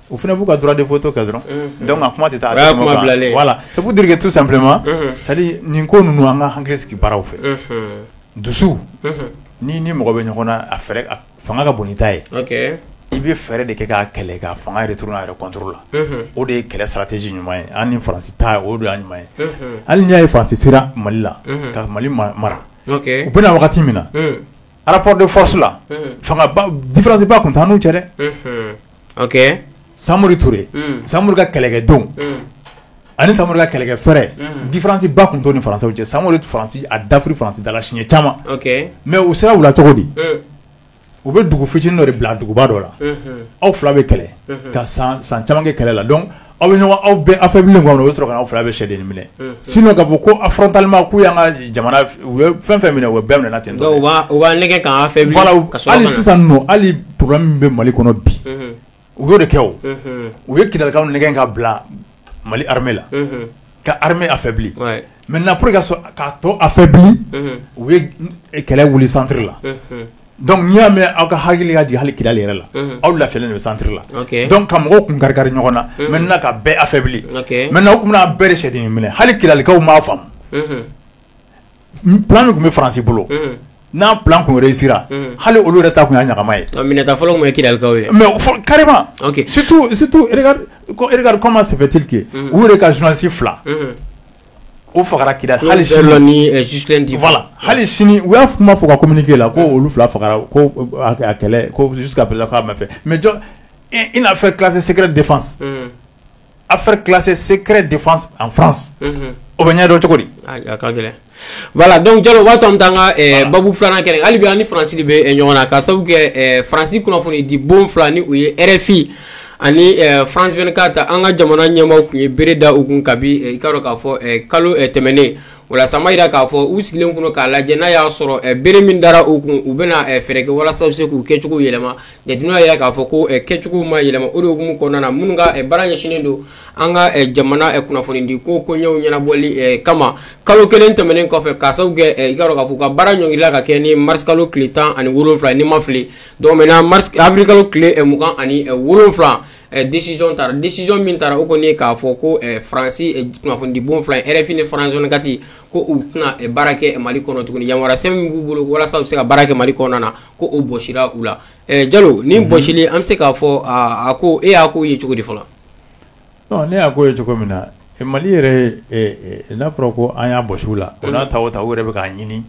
o fana b'u ka droit de veto kɛ dɔrɔn donc a kuma tɛ taa voilà c'est pour dire que tout simplement c'est à dire nin ko ninnu an ka hakili sigi baaraw fɛ dusu n'i ni mɔgɔ bɛ ɲɔgɔn na a fanga ka bon n'i ta ye i bɛ fɛɛrɛ de kɛ k'a kɛlɛ k'a fanga retourner a yɛrɛ contre la o de ye kɛlɛ stratégie ɲuman ye an ni faransi ta o de y'a ɲuman ye hali n'i y'a ye faransi sera mali la ka mali mara u bɛ na wagati min na rapport de force la fanga différence ba tun t'an n'u cɛ dɛ samori ture samori ka kɛlɛkɛdenw ani samori ka kɛlɛkɛ fɛɛrɛ différence ba tun t'u ni françaisw cɛ samori faransi a dafiri faransi dala siɲɛ caman mais u sera u la cogo di u bɛ dugu fitinin dɔ de bila duguba dɔ la aw fila bɛ kɛlɛ ka san caman kɛ kɛlɛ la donc aw bɛ ɲɔgɔn aw bɛɛ affaiblir maintenant o bɛ sɔrɔ ka na aw fila bɛɛ sɛgɛnnen minɛ sinon k'a fɔ ko frontalement k'u y'an ka jamana fɛn fɛn minɛ o bɛɛ minɛna ten hali sisan nɔ hali problème min bɛ mali kɔnɔ bi u y'o de kɛ u ye kidalikaw nɛgɛn ka bila mali armée la ka ha a fɛ bilen mɛ na ka sɔn k'a to a fɛ bilen u ye kɛlɛ wuli santeri la dɔnku n'i y'a mɛn aw ka hakili ka di hali kili yɛrɛ la aw lafifɛ de bɛ santi la dɔnku ka mɔgɔw kun kari kari ɲɔgɔn na mɛ ka bɛɛ a fɛ bilen mɛ n' tun bɛ'a bɛɛ sariya minɛ hali kilikaw' faamu min tun bɛ farasi bolo n'a bilarew hali olu yɛrɛ ta tun ye ɲama ye fɔlɔ kika ye mɛ kari situma sɛbɛnbɛtike u yɛrɛ ka ssi fila o faga kila hali hali sini u y'a tun b' fɔ ka kɔmi kelen la ko olu fila faga kɛlɛsu ka mɛ fɛ mɛ jɔ i n'a fɛ kilasi sɛgɛgɛrɛ defa Affaire classée secret défense en france o bɛ ɲɛ dɔn cogo di a ka gɛlɛn voilà donc jalo waati an bɛ taa an ka babu filanan kɛ hali bi an ni faransi de bɛ ɲɔgɔn na ka sababu kɛ faransi kunnafoni di bon fila ni o ye rfi ani france vingt-quatre an ka jamana ɲɛmaaw tun ye bere da u kun kabi i k'a dɔn k'a fɔ kalo tɛmɛnen wala sama jira k'a fɔ u sigilen tun don k'a lajɛ n'a y'a sɔrɔ bere min dara u kun u bɛna fɛɛrɛ kɛ walasa u bɛ se k'u kɛcogo yɛlɛma Jateminɛw y'a jira k'a fɔ ko kɛcogo ma yɛlɛma o de hukumu kɔnɔna na minnu ka baara ɲɛsinnen don an ka jamana kunnafoni di ko koɲɛw ɲɛnabɔli kama kalo kelen tɛmɛnen kɔfɛ ka sababu kɛ i k'a dɔn k'a fɔ u ka baara ɲɔngirila ka kɛ ni mars kalo tile tan ani wolonwula ni n ma fili donc maintenant mars avril kalo tile mugan ani wolonwula décision taara décision min taara o kɔni k'a fɔ ko faransi kunnafonidibon fila rfi ni france vingt-quatre ko u tɛna baara kɛ mali kɔnɔ tuguni yamaruya sɛbɛn min b'u bolo walasa u bɛ se ka baara kɛ mali kɔnɔna na ko o bɔsira u la jalo ni bɔsili an bɛ se k'a fɔ a ko e y'a ko ye cogo di fɔlɔ non ne y'a ko ye cogo min na mali yɛrɛ n'a fɔra ko an y'a bɔsi u la o n'a ta o ta u yɛrɛ bɛ k'a ɲini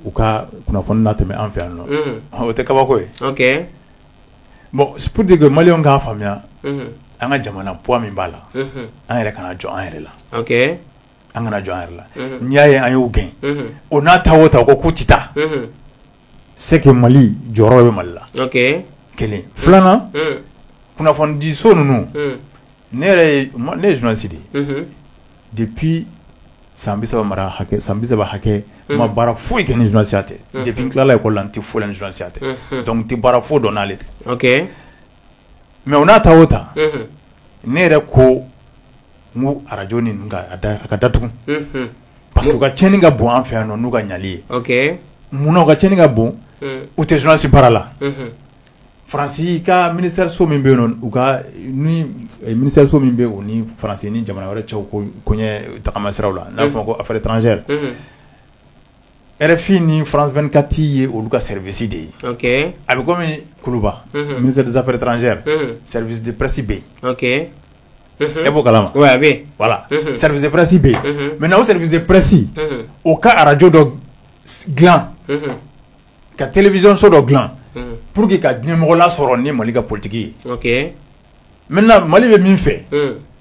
u ka kunnafoni latɛmɛ an fɛ yan nɔ o tɛ kabako ye bon pour dire que maliens k'a faamuya an ka jamana poids min b'a la an yɛrɛ kana jɔn an yɛrɛ la an kana jɔn an yɛrɛ la n'i y'a ye an y'o gɛn o n'a ta o ta o ko k'u tɛ taa c'est que mali jɔyɔrɔ bɛ mali la kelen filanan kunnafonidiso ninnu ne ye journaliste de ye depuis san bisaba mara san bisaba hakɛ n ma baara foyi kɛ ni journaliste tɛ depuis n tilala école la n tɛ foyi la ni journaliste tɛ donc n tɛ baara foyi dɔn n'ale tɛ mais o n'a ta o ta ne yɛrɛ ko ko arajo ninnu ka datugu parce que u ka tiɲɛni ka bon an fɛ yan n'u ka ɲali ye munna u ka tiɲɛni ka bon u tɛ journaliste baara la faransi ka minisiriso min bɛ yen u ka minisiriso min bɛ u ni faransi ni jamana wɛrɛ cɛw koɲɛ tagama siraw la n'a fɔ ko affaires étrangères RFI ni France 24 ye olu ka service de ye. Okay. A bi komi kuluba ministère des affaires étrangères service de presse be yen. E b'o kalama? Oui a be yen. Voila service de presse be yen. Maintenant o service de presse o ka Radio dɔ gilan ka television so dɔ gilan pour que ka ɲɛmɔgɔ lasɔrɔ ni Mali ka politique ye. Ok. Maintenant Mali bɛ min fɛ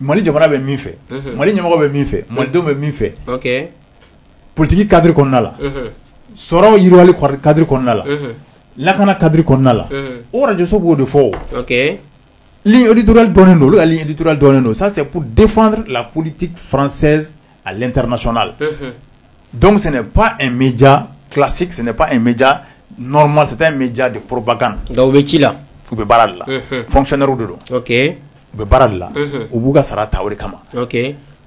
Mali jamana bɛ min fɛ Mali ɲɛmɔgɔ bɛ min fɛ Malidenw bɛ min fɛ politigi kadi kɔnɔna la sɔrɔ yiriwa kadi kɔnɔna la lakana kadi kɔnɔna la oso b'o de fɔ litura dɔn don alitura dɔn don sase defan la politi faransɛ alitr sɔnna la dɔwsɛnɛ pan n bɛ ja kilasi sɛnɛ pan n bɛ ja nɔrɔma sata in bɛ ja de porobakan nka u bɛ ci la u bɛ baara la fcɛnɛr de don u bɛ baara la u b'u ka sara ta o kama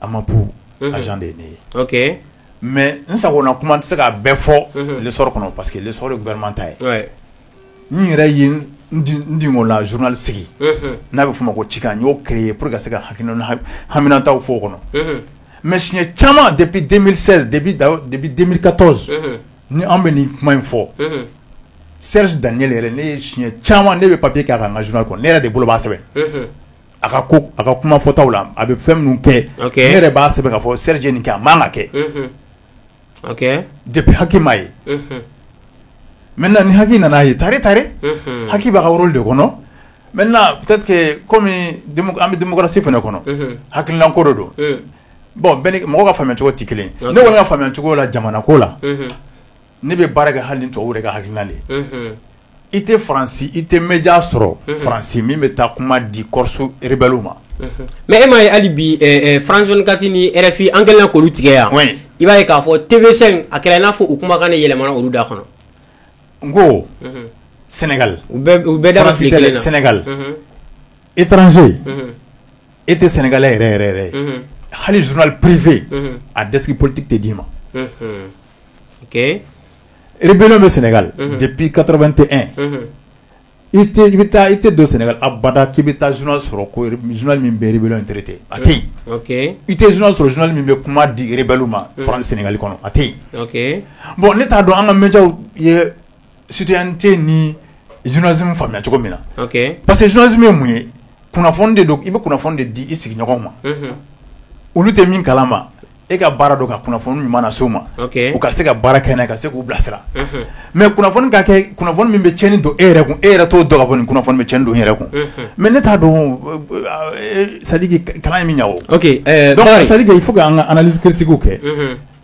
a ma p de ye ne ye mɛ n sago kuma tɛ se k'a bɛɛ fɔ le sɔrɔ kɔnɔ parce que le sɔrɔ gama ta ye n yɛrɛ n la zurunli sigi n'a bɛ f' ma ko ci n y'o ke ye p que se ka ha haminata fɔ o kɔnɔ mɛ siɲɛ caman de bi den ka tɔn ni an bɛ nin kuma in fɔ seri dan ne yɛrɛ ne ye siɲɛ caman ne bɛ papi kɛ' ka n ka zurunli kɔnɔ ne yɛrɛ de bolo' sɛbɛn a ka ko a ka kuma fɔtaw la a bɛ fɛn minnu kɛ e yɛrɛ b'a sɛbɛn ka fɔ seliji nin kɛ a ma kɛ de bɛ hakiliki ye mɛ na ni hakiliki nana a ye tare ta hakiliki bɛ ka woro de kɔnɔ mɛ kɔmi an bɛ denmusosi fana kɔnɔ hakililan ko don bɔn mɔgɔ ka fa cogo tɛ kelen ne kɔni ka fa cogo la jamana ko la ne bɛ baara kɛ hali to ka hakilina i tɛ faransi i tɛ média sɔrɔ faransi min bɛ taa kuma di Corse rebɛliw ma mais e ma ye hali bi France 24 ni RFI an kɛlen k'olu tigɛ yan i b'a ye k'a fɔ TV5 a kɛra n'a fɔ u kumakan ne yɛlɛmana olu da kɔnɔ n ko sɛnɛgali i bɛ taa sɛnɛgali étranger e tɛ sénégalais yɛrɛ yɛrɛ hali journal privé a desk politigi tɛ d'i ma rébellion bɛ sɛnɛgali depuis 81 i bɛ taa i tɛ don sɛnɛgali abada k'i bɛ taa journal sɔrɔ journal min bɛ rébellion in traiter a tɛ i tɛ journal sɔrɔ journal min bɛ kuma di rebɛliw ma fara sɛnɛgali kɔnɔ a tɛ yen bɔn ne t'a dɔn an ka médiaw ye citoyenneté ni journalisme faamuya cogo min na parce que journalisme ye mun ye kunnafoni de don i bɛ kunnafoni de di i sigiɲɔgɔn ma olu tɛ min kala ma e ka baara don ka kunnafoni ɲuman nase u ma u ka se ka baara kɛ ka se k'u bilasira mais kunnafoni ka kɛ kunnafoni min bɛ tiɲɛni don e yɛrɛ kun e yɛrɛ t'o dɔn k'a fɔ nin kunnafoni bɛ tiɲɛni don e yɛrɛ kun mais ne t'a dɔn sadiki kalan ye min ɲɛ sadiki fo an ka analyse critique kɛ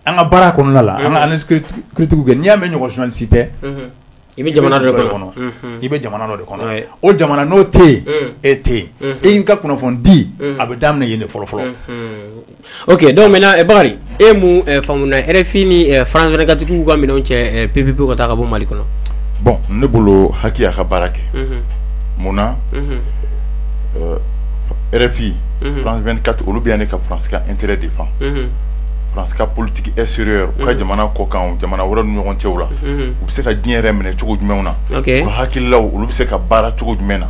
an ka baara kɔnɔna la an ka analyse critique kɛ n'i y'a mɛn journaliste I bɛ jamana dɔ de kɔnɔ i bɛ jamana dɔ de kɔnɔ o jamana n'o tɛ yen e tɛ yen e ka kunnafoni di a bɛ daminɛ yen de fɔlɔ fɔlɔ ok donc maintenant bakari e mun faamu na rfi ni france 24 k'u k'u ka minɛnw cɛ pewu ka taa ka bɔ mali kɔnɔ bon ne bolo haki y'a ka baara kɛ munna rfi france 24 olu bɛ yan ne ka faransi intérêt défendre faransi politique extérieure u ka jamana kɔ kan jamana wɛrɛ ni ɲɔgɔn cɛw la u bɛ se ka diɲɛ yɛrɛ minɛ cogo jumɛn na u ka hakililaw olu bɛ se ka baara cogo jumɛn na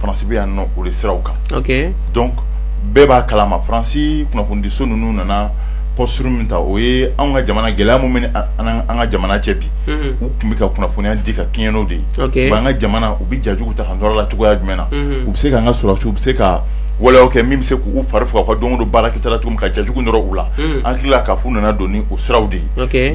faransi bɛ yan o de siraw kan donc bɛɛ b'a kalama faransi kunnafonidiso ninnu nana posture min ta o ye an ka jamana gɛlɛya min bɛ an ka jamana cɛ bi u tun bɛ ka kunnafoniya di ka kɛɲɛ n'o de ye an ka jamana u bɛ jajugu ta an la cogoya jumɛn na u bɛ se ka an ka sɔrɔdasiw u bɛ se ka waleyaw kɛ min bɛ se k'u fari faga ka don o don baara kɛta la cogo min ka jajugu nɔrɔ u la an hakili la k'a f'u nana don ni o siraw de ye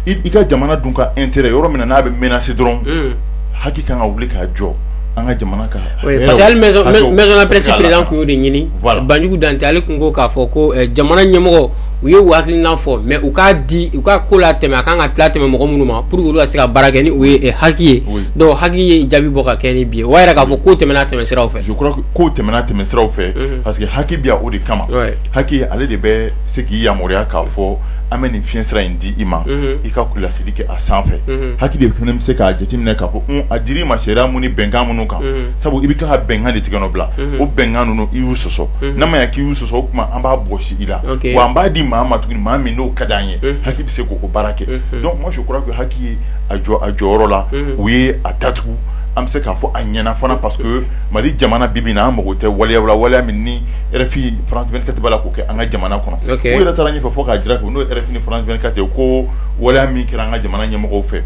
i ka jamana dun ka intérêt yɔrɔ min na n'a bɛ menacer dɔrɔn haki ka kan ka wuli k'a jɔ an ka jamana kan hali maison de la presse président tun y'o de ɲini banjugu dantɛ ale tun ko k'a fɔ ko jamana ɲɛmɔgɔ u ye u hakilina fɔ mais u k'a di u ka ko la tɛmɛ a ka kan ka tila tɛmɛ mɔgɔ minnu ma pour que olu ka se ka baara kɛ ni o ye haki ye donc haki ye jaabi bɔ ka kɛ ni bi ye o b'a yira k'a fɔ ko tɛmɛna tɛmɛ sira fɛ je crois ko tɛmɛna tɛmɛ sira fɛ parce que haki bɛ yan o de kama haki ale de bɛ se k'i yamaruya k'a fɔ an bɛ nin fiɲɛ sira in di i ma i ka laseli kɛ a sanfɛ haki de fana bɛ se k'a jateminɛ k'a fɔ a dir'i ma sariya mun ni bɛnkan minnu kan sabu i bɛ ka bɛnkan de tigɛnɔ bila o bɛnkan ninnu i y'u sɔsɔ n'an m'a ye k'i y'u sɔsɔ o tuma an b'a bɔsi i la wa an b'a di maa ma tuguni maa min n'o ka di an ye haki bɛ se k'o baara kɛ donc moi je crois que haki ye a jɔ a jɔyɔrɔ la u ye a datugu an bɛ se k'a fɔ a ɲɛna fana parce que mali jamana bi bi in na an mako tɛ waleyaw la waleya min rfi france 24 b'a la k'o kɛ an ka jamana kɔnɔ u yɛrɛ taara ɲɛfɛ fo k'a jira ko n'o ye rfi ni france 24 ye ko waleya min kɛra an ka jamana ɲɛmɔgɔw fɛ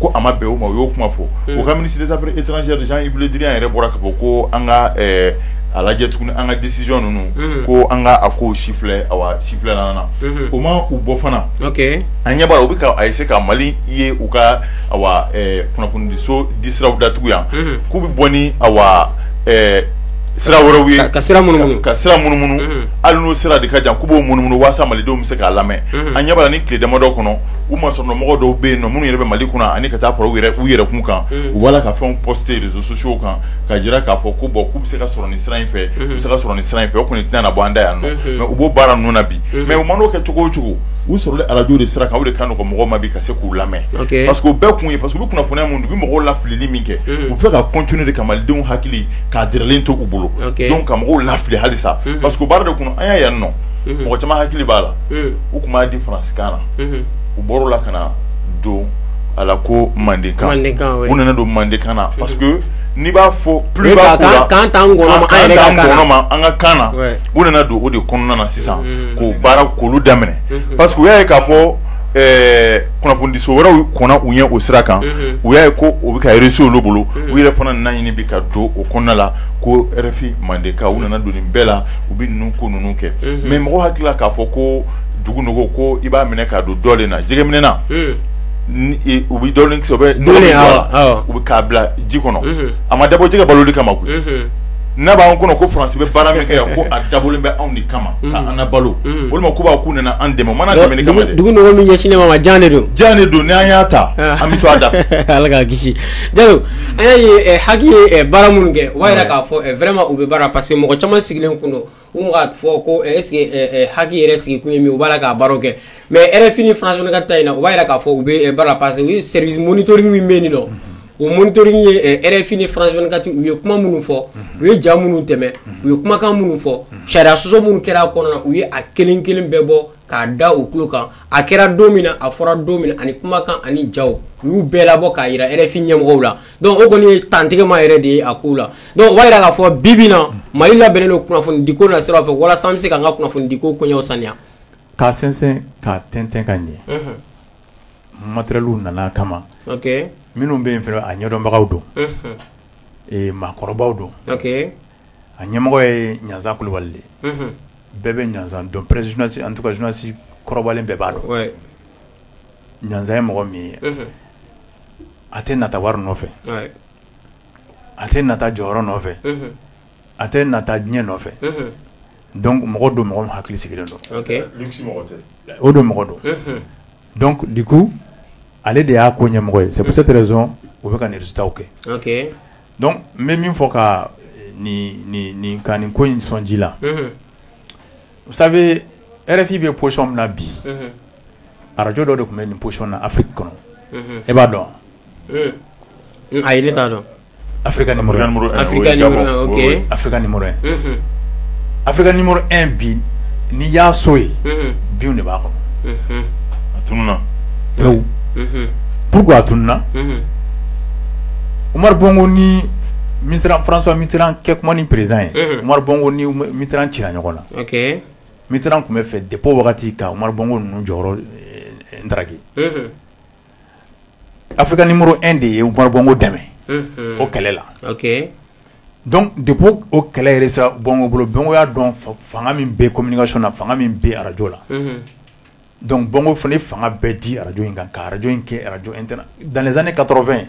ko a ma bɛn u ma u y'o kuma fɔ u ka ministre des affaires étrangères jean-yves le drian yɛrɛ bɔra k'a fɔ ko an ka a lajɛ tuguni an ka décision ninnu ko an ka a ko si filɛ a si filɛ na o ma u bɔ fana an ɲɛ b'a la u bɛ ka essayer ka mali ye u ka kunnafonidiso disiraw datugu yan k'u bɛ bɔ ni a sira wɛrɛw ye ka sira munu ka sira munumunu hali n'o sira de ka jan k'u b'o munumunu walasa malidenw bɛ se k'a lamɛn an ɲɛ b'a la nin tile damadɔw kɔnɔ u ma sɔrɔ mɔgɔ dɔw bɛ yen nɔ minnu yɛrɛ bɛ mali kunna ani ka taa fara u yɛrɛ kun kan u b'a la ka fɛnw poster réseaux sociaux kan ka jira k'a fɔ ko bon k'u bɛ se ka sɔrɔ nin sira in fɛ u bɛ se ka sɔrɔ nin sira in fɛ o kɔni tɛna bɔ an da yan nɔ mais u b'o baara ninnu na bi mais u man'o kɛ cogo o cogo u sɔrɔ arajo de sira kan o de ka nɔgɔn mɔgɔw ma bi ka se k'u lamɛn parce que o bɛɛ kun ye parce que kunnafoniya minnu u bɛ mɔgɔw lafilili min kɛ u b'a fɛ ka continuer de ka malidenw hakili k'a dɛrɛlen to u bolo donc ka mɔgɔw lafili halisa parce que baara de kun an y'a yan nɔ mɔgɔ caman hakili b'a la u tun b'a di faransikan na u bɔr'a la ka na don a la ko mandenkan u nana don mandenkan na parce que n'i b'a fɔ plus précisément an ka kan na u nana don o de kɔnɔna na sisan k'o baara k'olu daminɛ parce que u y'a ye k'a fɔ kunnafonidiso wɛrɛw kɔnna u ɲɛ o sira kan u y'a ye ko o bɛ ka réussir olu bolo u yɛrɛ fana nana a ɲini bi ka don o kɔnɔna la ko RFI mandenkan u nana don nin bɛɛ la u bɛ ninnu ko ninnu kɛ mais mɔgɔ hakili la k'a fɔ ko dugu nɔgɔ ko i b'a minɛ k'a don dolen na jɛgɛminɛna u bɛ dolen kisɛ bɛ o la u bɛ k'a bila ji kɔnɔ a ma dabɔ jɛgɛ baloli kama koyi n'a b'an kɔnɔ ko faransi bɛ baara min kɛ yan ko a dabɔlen bɛ anw de kama ka an balo walima ko b'a k'u nana an dɛmɛ u ma na dɛmɛni kama dɛ dugu nɔgɔ min ɲɛsinnen b'an ma jan de don jan de don n' an y'a ta an bɛ to a da ala k'an kisi Jalo an y'a ye HAC ye baara minnu kɛ o b'a jira k'a fɔ vraiment u bɛ baara parce que mɔgɔ caman sigilen kun don U k'a fɔ ko est-ce que HAC yɛrɛ sigi kun min u b'a la k'a baara kɛ mais RFI ni France vingt-quatre ta in na u b'a jira k'a fɔ u bɛ baara parce que u ye service monitoring min bɛ yen nɔ o monitoring ye RFI ni France vingt-quatre u ye kuma minnu fɔ u ye ja minnu tɛmɛ u ye kumakan minnu fɔ sariya sɔsɔ minnu kɛra a kɔnɔna u ye a kelen kelen bɛɛ bɔ k'a da u tulo kan a kɛra don min a fɔra don min ani kumakan ani ja u y'u bɛɛ labɔ k'a jira RFI ɲɛmɔgɔw la Donc o kɔni ye dantigɛma yɛrɛ de ye a ko la donc o b'a jira k'a fɔ bi bi in na Mali labɛnnen don kunnafonidi ko nasira fɛ walasa an bɛ se ka an ka kunnafonidi ko koɲɛw saniya, k'a sɛnsɛn k'a tɛntɛn ka ɲɛ, unhun, matériels nana a kama, ok, minnu bɛ yen fana a ɲɛdɔnbagaw don, unhun, ɛ maakɔrɔbaw don, ok, a ɲɛmɔgɔ ye Ɲanzan Kulubali de ye, unhun, bɛɛ bɛ Ɲanzan dɔn, presque journaliste en tout cas journaliste kɔrɔbalen bɛɛ b'a dɔn, wɛ. ɲanzan ye mɔgɔ min ye a tɛ nata wari nɔfɛ a tɛ nata jɔyɔrɔ nɔfɛ a tɛ nata diɲɛ nɔfɛ donc mɔgɔ don mɔgɔ min hakili sigilen don o don mɔgɔ don donc du coup ale de y'a ko ɲɛmɔgɔ ye c'est pour cette raison u bɛ ka nin résultats kɛ donc n bɛ min fɔ ka nin ko in sɔn ji la sabu rfifin bɛ psɔn min na bi arajo dɔ de tun bɛ nin boyɔn na afi kɔnɔ e b'a dɔn a ye ne t'a dɔn a ka a a bi ni ya so ye bi de b'a kɔnɔ a tun p a tun uma bɔk ni mi fran min kɛ kuma ni pererez ye uma bɔk ni ci ɲɔgɔn ɲɔgɔn na mi tun bɛ fɛ de wagati ka bɔko ninnu jɔyɔrɔ daki a fɛ ka ni muru e de ye bɔko dɛmɛ o kɛlɛ la de o kɛlɛ sa bɔnko bolo bɔnko y'a dɔn fanga min bɛ ko minikaso na fanga min bɛ arajo la dɔnku bɔnko fana fanga bɛɛ di arajo in kan ka arajo in kɛ arajo in da ne ka tɔɔrɔfɛn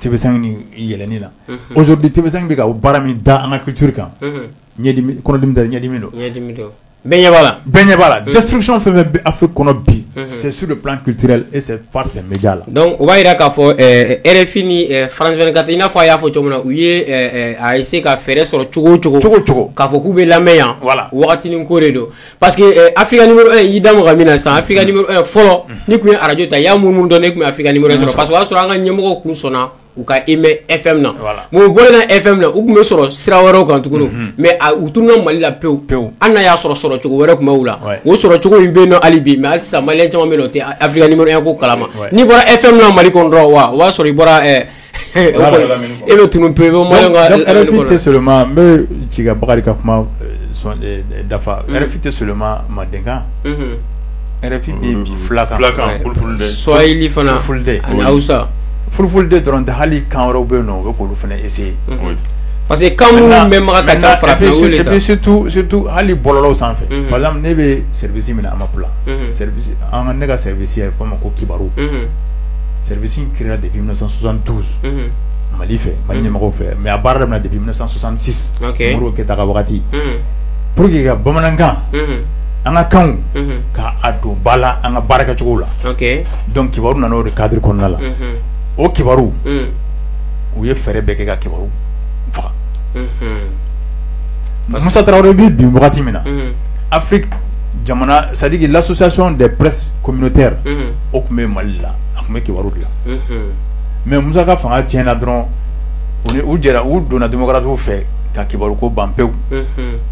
yɛlɛni na ozo di tɛmɛsan bɛ baara min da an ka kituuru kan ɲɛdimi don la dɛsɛsiricɔn fɛn bɛ a fɔ kɔnɔ bi sɛsu de pan kite e pa la dɔnku o b'a jira k'a fɔ rfini fararanz ka i n'a fɔ a y'a fɔ cogo min na u ye a ye se ka fɛɛrɛ sɔrɔ cogo cogo cogo cogo k'a fɔ k'u bɛ lamɛn yan wala ko de don Pa que afi y'i da min na san a fɔlɔ ni tun ye araj ta y'a mun dɔn ne tun fi sɔrɔ pa y'a sɔrɔ an ka ɲɛmɔgɔ kun sɔnna u ka e mɛ e fɛn na mɛ bɔn e fɛn na u tun bɛ sɔrɔ sira wɛrɛw kan tugun mɛ u tun ka mali la pewu pewu an y'a sɔrɔ sɔrɔ cogo wɛrɛ tun bɛ la o sɔrɔ cogo in bɛ hali bi mɛ sa caman min o tɛ afiya ko kalama n'i bɔra e fɛn min mali dɔrɔn wa o y'a sɔrɔ i bɔra E bɛ tun pe tɛ soma n bɛ ci ka bakari ka kuma dafa tɛ soma mandenkan fulakansa furu de dɔrɔn tɛ hali kan wɛrɛ bɛ yen o bɛ kolo fana ese parce que kan bɛ taa fara hali bɔlɔ sanfɛ ne bɛ minɛ a ma ne ka ye fɔ ma ko kibaru seribisi kira de bɛsan tu mali fɛ mali ɲɛmɔgɔ fɛ mɛ a baara de bɛsansansi mori kɛ taa wagati pour que ka bamanankan an ka kan k'a don ba la an ka baara kɛcogo la dɔnku kibaru nana o de kadi kɔnɔna la o kibaru u ye fɛɛrɛ bɛɛ kɛ ka kibaru faga masa tarawele bɛ bi wagati min na a fɛ jamana sajiki lasosasɔnon de pɛs kɔminte o tun bɛ mali la a tun bɛ kibaru bila mɛ musa ka fanga tiɲɛna dɔrɔn u jɛra u donna demokarasi fɛ ka kibaru ko ban pewu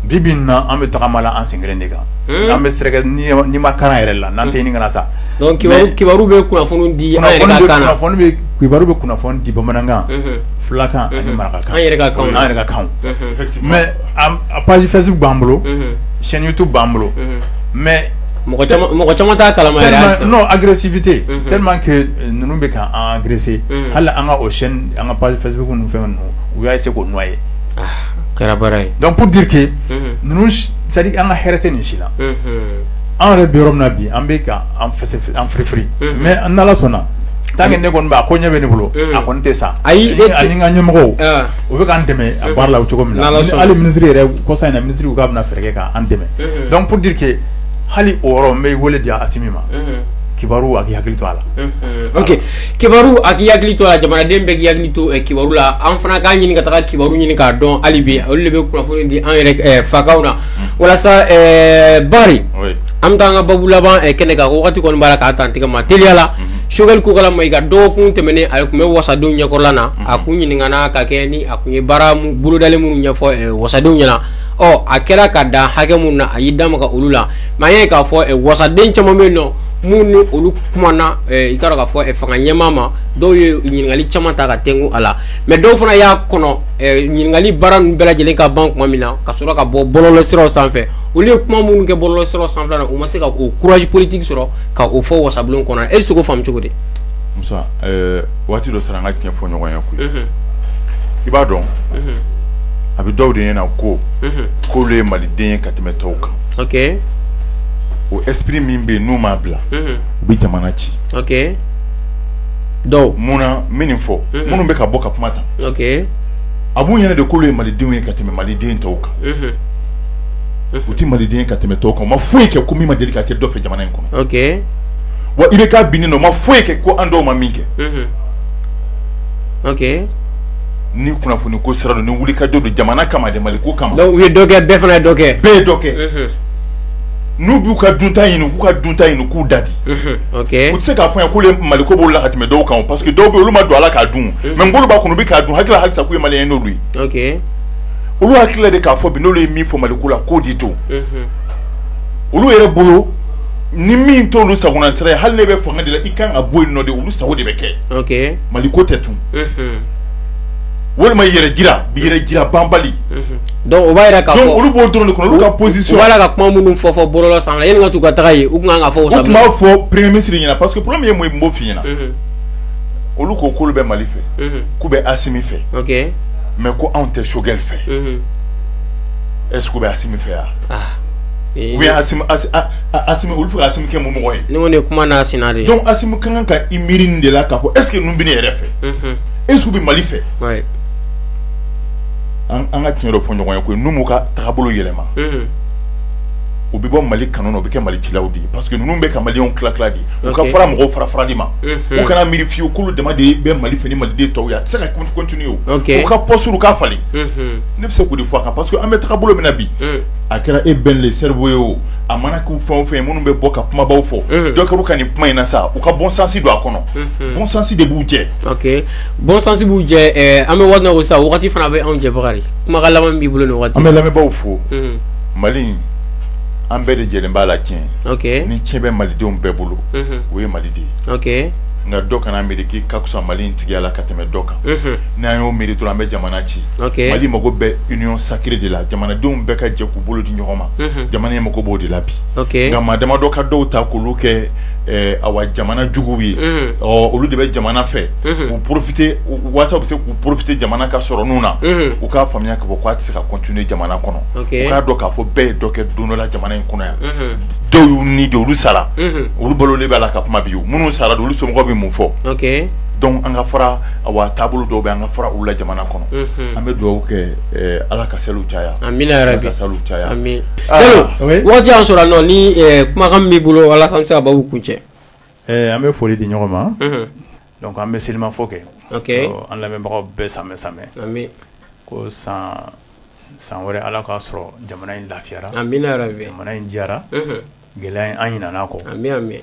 bi bi in na an bɛ tagama la an sen kelen de kan an bɛ nimakaran yɛrɛ la n'an tɛ kana sa kibaru kibaru bɛ kunnafoni di kibaru bɛ kunnafoni di bamanankan fulakan ani marakakan yɛrɛ kan mɛ a page Facebook b'an bolo chaîne YouTube b'an bolo mɛ mɔgɔ caman mɔgɔ caman t'a kalama yɛrɛ halisa. tellement non agressivité Mhm. tellement que euh, ninnu bɛ ka an agresser Mhm. hali an ka o chaîne an ka page Facebook ninnu fɛn ninnu u y'a essayer k'o noyer Ah, kɛra baara ye donc pour dire que Mhm. ninnu si- c'est à dire an ka hɛrɛ tɛ nin si la Mhm. an yɛrɛ bɛ yɔrɔ min na bi an bɛ ka an fɛsɛ an firifiri Mhm. mais an n'ala sɔnna tant que ne kɔni b'a ko ɲɛ bɛ ne bolo Mhm. a kɔni tɛ sa Ayi, e Ni- tɛ- ani n ka ɲɛmɔgɔw Ah, u bɛ k'an dɛmɛ a baara la o cogo min na N'Ala Ni- sɔnna. hali minisiri yɛrɛ kɔsa in na minisiri ko k'a bɛna fɛɛrɛ kɛ k'an dɛmɛ Mhm. donc pour dire que hali o yɔrɔ n bɛ wele di asimi ma kibaru a k'i hakili to a la kibaru a k'i hakili to a la jamanaden bɛ hakili to kibaru la an fana k'a ɲini ka taa kibaru ɲini k'a dɔn hali bi olu de bɛ kunnafoni di an yɛrɛ fakan na walasa bari an bɛ taa an ka babu laban kɛnɛ kan waati kɔni b'a la k'a taa tigɛ ma teliya la sogɛli kokala mayiga dɔgɔkun tɛmɛnen a tun bɛ wasadenw ɲɛkɔrɔla na a kun ɲininkala ka kɛɲɛ ni a tun ye baara bolodalen minnu ɲɛfɔ wasadenw ɲɛna ɔ a kɛra ka dan hakɛ mun na a y'i da maga olu la mɛ an ye k'a fɔ wasaden caman bɛ yen nɔ minnu ni olu kumana i ka k'a fɔ fanga ɲɛmaa ma dɔw ye ɲininkali caman ta ka tenku a la mɛ dɔw fana y'a kɔnɔ ɲininkali baara ninnu bɛɛ lajɛlen ka ban tuma min na ka sɔrɔ ka bɔ bɔlɔlɔ siraw sanfɛ olu ye kuma minnu kɛ bɔlɔlɔ siraw sanfɛla na u ma se ka o courage politique sɔrɔ ka o fɔ wasabulon kɔnɔ e bɛ se k'o faamu cogo di waati dɔ sera an ka tiɲɛ fɔ ɲɔgɔn ye koyi i b'a dɔn a bɛ dɔw de ɲɛna na ko k'olu ye maliden ye ka tɛmɛ tɔw kan o espri min bɛ yen n'u m'a bila u bɛ jamana ci dɔn munna n bɛ nin fɔ minnu bɛ ka bɔ ka kuma ta a b'u ɲɛna de k'olu ye malidenw ye ka tɛmɛ maliden tɔw kan u tɛ maliden ka tɛmɛ tɔw kan u ma foyi kɛ ko min ma deli ka kɛ dɔ fɛ jamana in kɔnɔ wa i bɛ ka bin nɔ ma foyi kɛ ko an dɔw ma min kɛ ni kunnafoni ko sira don ni wuli ka jɔ don jamana kama de mali ko kama u ye dɔ kɛ bɛɛ fana dɔ kɛ bɛɛ ye dɔ kɛ n'u b'u ka dunta ɲini k'u ka dunta ɲini k'u dade u tɛ se k'a fɔ an ye k'olu mali ko b'u la ka tɛmɛ dɔw kan parce que dɔw bɛ olu ma don ala k'a dun mɛ n bolo b'a kɔnɔ u bɛ k'a dun hakili la halisa k'u ye mali ye n'olu ye olu hakili la de k'a fɔ bi n'olu ye min fɔ mali ko la k'o de don olu yɛrɛ bolo ni min t'olu sago na sira hali n'e bɛ fanga de la i kan ka bɔ yen nɔ de olu sago de bɛ kɛ mali ko tɛ tun walima yɛrɛ jira bi yɛrɛ jira banbali dɔnku o b'a yira ka olu b'o dɔrɔn de kɔ olu ka position b'a ka kuma minnu fɔ fɔ bɔlɔlɔ san ka taa u tun ka fɔ b'a fɔ premier ministre ɲɛna parce que problème ye mun b'o fi ɲɛna olu ko k'olu bɛ mali fɛ k'u bɛ asimi fɛ mɛ ko anw tɛ choguel fɛ eseke u bɛ asimi fɛ yan u bɛ asimi olu fo asimi kɛ mɔgɔ ye ɲɔgɔn de kuma n'a sen de dɔnku asimi ka kan ka i miiri de la ka fɔ eseke ninnu bɛ ne yɛrɛ fɛ eseke u bɛ mali fɛ an ka tiɲɛ dɔ fɔ ɲɔgɔn ye ko n'u m'u ka taabolo yɛlɛma u bɛ bɔ mali kanu na u bɛ kɛ mali cilaw de ye parce que ninnu bɛ ka maliyɛnw tila di u ka fara mɔgɔw fara farali ma u kana miiri fiyewu k'olu dama de bɛ mali fɛ ni maliden tɔw ye a tɛ se ka continuer u ka position ka falen ne bɛ se k'o de fɔ a kan parce que an bɛ taga bolo min na bi a kɛra e bɛn le cerveau ye o a mana k'u fɛn o fɛn ye minnu bɛ bɔ ka kumabaw fɔ unhun donc u ka nin kuma in na sa u ka bon sens don a kɔnɔ unhun bon sens de b'u jɛ ok bon sens b'u jɛ ɛɛ eh, an bɛ waati min na ko sisan wagati fana bɛ anw jɛ Bakari kumakan laban min b'i bolo nin wagati an bɛ lamɛnbaaw fo unhun Mali in an bɛɛ de jɛlen b'a la tiɲɛ ok ni tiɲɛ bɛ malidenw bɛɛ bolo unhun o ye Mali de ye ok nka dɔ kana miiri k'i ka fisa Mali in tigiya la ka tɛmɛ dɔ kan unhun n'an y'o miiri dɔrɔn an bɛ jamana ci mali mako bɛ union sacrée de la jamanadenw bɛɛ ka jɛ k'u bolo di ɲɔgɔn ma jamana in mako b'o de la bi nka maa damadɔ ka dɔw ta k'olu kɛ awa jamana juguw ye ɔ olu de bɛ jamana fɛ u porofite waasa u bɛ se k'u porofite jamana ka sɔrɔ ninnu na u k'a faamuya ka fɔ k'a tɛ se ka continuer jamana kɔnɔ u k'a dɔn k'a fɔ bɛɛ ye dɔ kɛ don dɔ la jamana in kɔnɔ yan dɔw y'u ni di olu sara olu balolen b'a la ka kuma bi u minnu sara olu somɔgɔw bɛ mun fɔ dɔnku an ka fara awa taabolo dɔw bɛ an ka fara olu la jamana kɔnɔ an bɛ dugawu kɛ ala ka seli caya amiina ka san caya waati y'an sɔrɔ nɔ ni kumakan b'i bolo walasa an bɛ se ka babu kuncɛ an bɛ foli di ɲɔgɔn ma dɔnku an bɛ selimafo kɛ an lamɛnbagaw bɛɛ samɛ samɛ ko san wɛrɛ ala k'a sɔrɔ jamana in lafiyara amiina jamana in diyara gɛlɛya in an ɲinɛn'a kɔ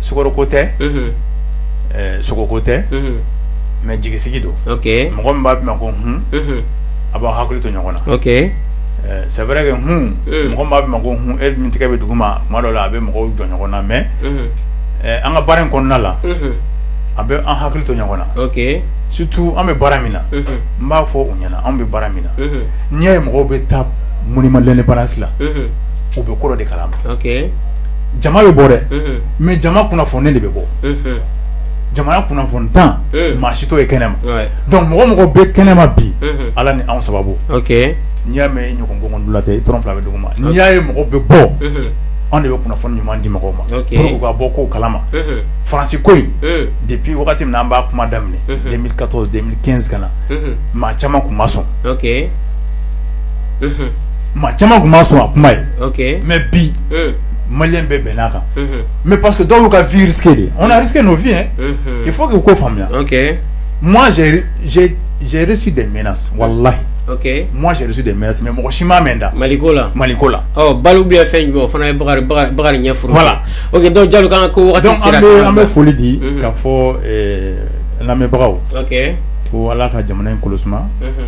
sukaroko tɛ sogoko tɛ mɛ jigisigi don mɔgɔ min b'a f'i ma ko hun a b'aw hakili to ɲɔgɔn na c'est vrai que hun mɔgɔ min b'a f'i ma ko hun e min tigɛ bɛ dugu ma tuma dɔ la a bɛ mɔgɔw jɔ ɲɔgɔn na mɛ an ka baara in kɔnɔna la a bɛ an hakili to ɲɔgɔn na surtout an bɛ baara min na n b'a fɔ u ɲɛna an bɛ baara min na n'i y'a ye mɔgɔw bɛ taa monument indépendance la u bɛ kɔrɔ de kalan jama bɛ bɔ dɛ mais jama kunnafoninen de bɛ bɔ jama kunnafonintan maa si t'o ye kɛnɛma donc mɔgɔ mɔgɔ bɛ kɛnɛma bi ala ni anw sababu n'i y'a mɛn ɲɔgɔn gɔngɔn dula tɛ i tɔrɔn fila bɛ dugu ma n'i y'a ye mɔgɔ bɛ bɔ anw de bɛ kunnafoni ɲuman di mɔgɔw ma pour que u ka bɔ ko kalama Faransi ko in depuis wagati min na an b'a kuma daminɛ 2014 2015 na maa caman tun ma sɔn maa caman tun ma sɔn a kuma ye okay. mais bi mm. maliyɛn bɛɛ bɛnn'a kan mm -hmm. mais parce que dɔw y'u ka vie risqué dɛ on a risqué nos vies hein mm -hmm. il faut que u k'o faamuya okay. moi j'ai j'ai reçu des menaces wallahi Okay. Moi j'ai reçu des menaces mais mɔgɔ si m'a mɛn n da. Maliko la. Maliko la. Ɔ oh, balo bɛ fɛn jumɛn o fana ye Bakari Bakari Bakari ɲɛ furu. Voilà. Ok donc Jalo k'an ka ko wagati sera. Donc an bɛ an bɛ foli di mhm. k'a fɔ ɛɛ lamɛnbagaw. Ok. Ko Ala ka jamana in kolo suma. Mhm.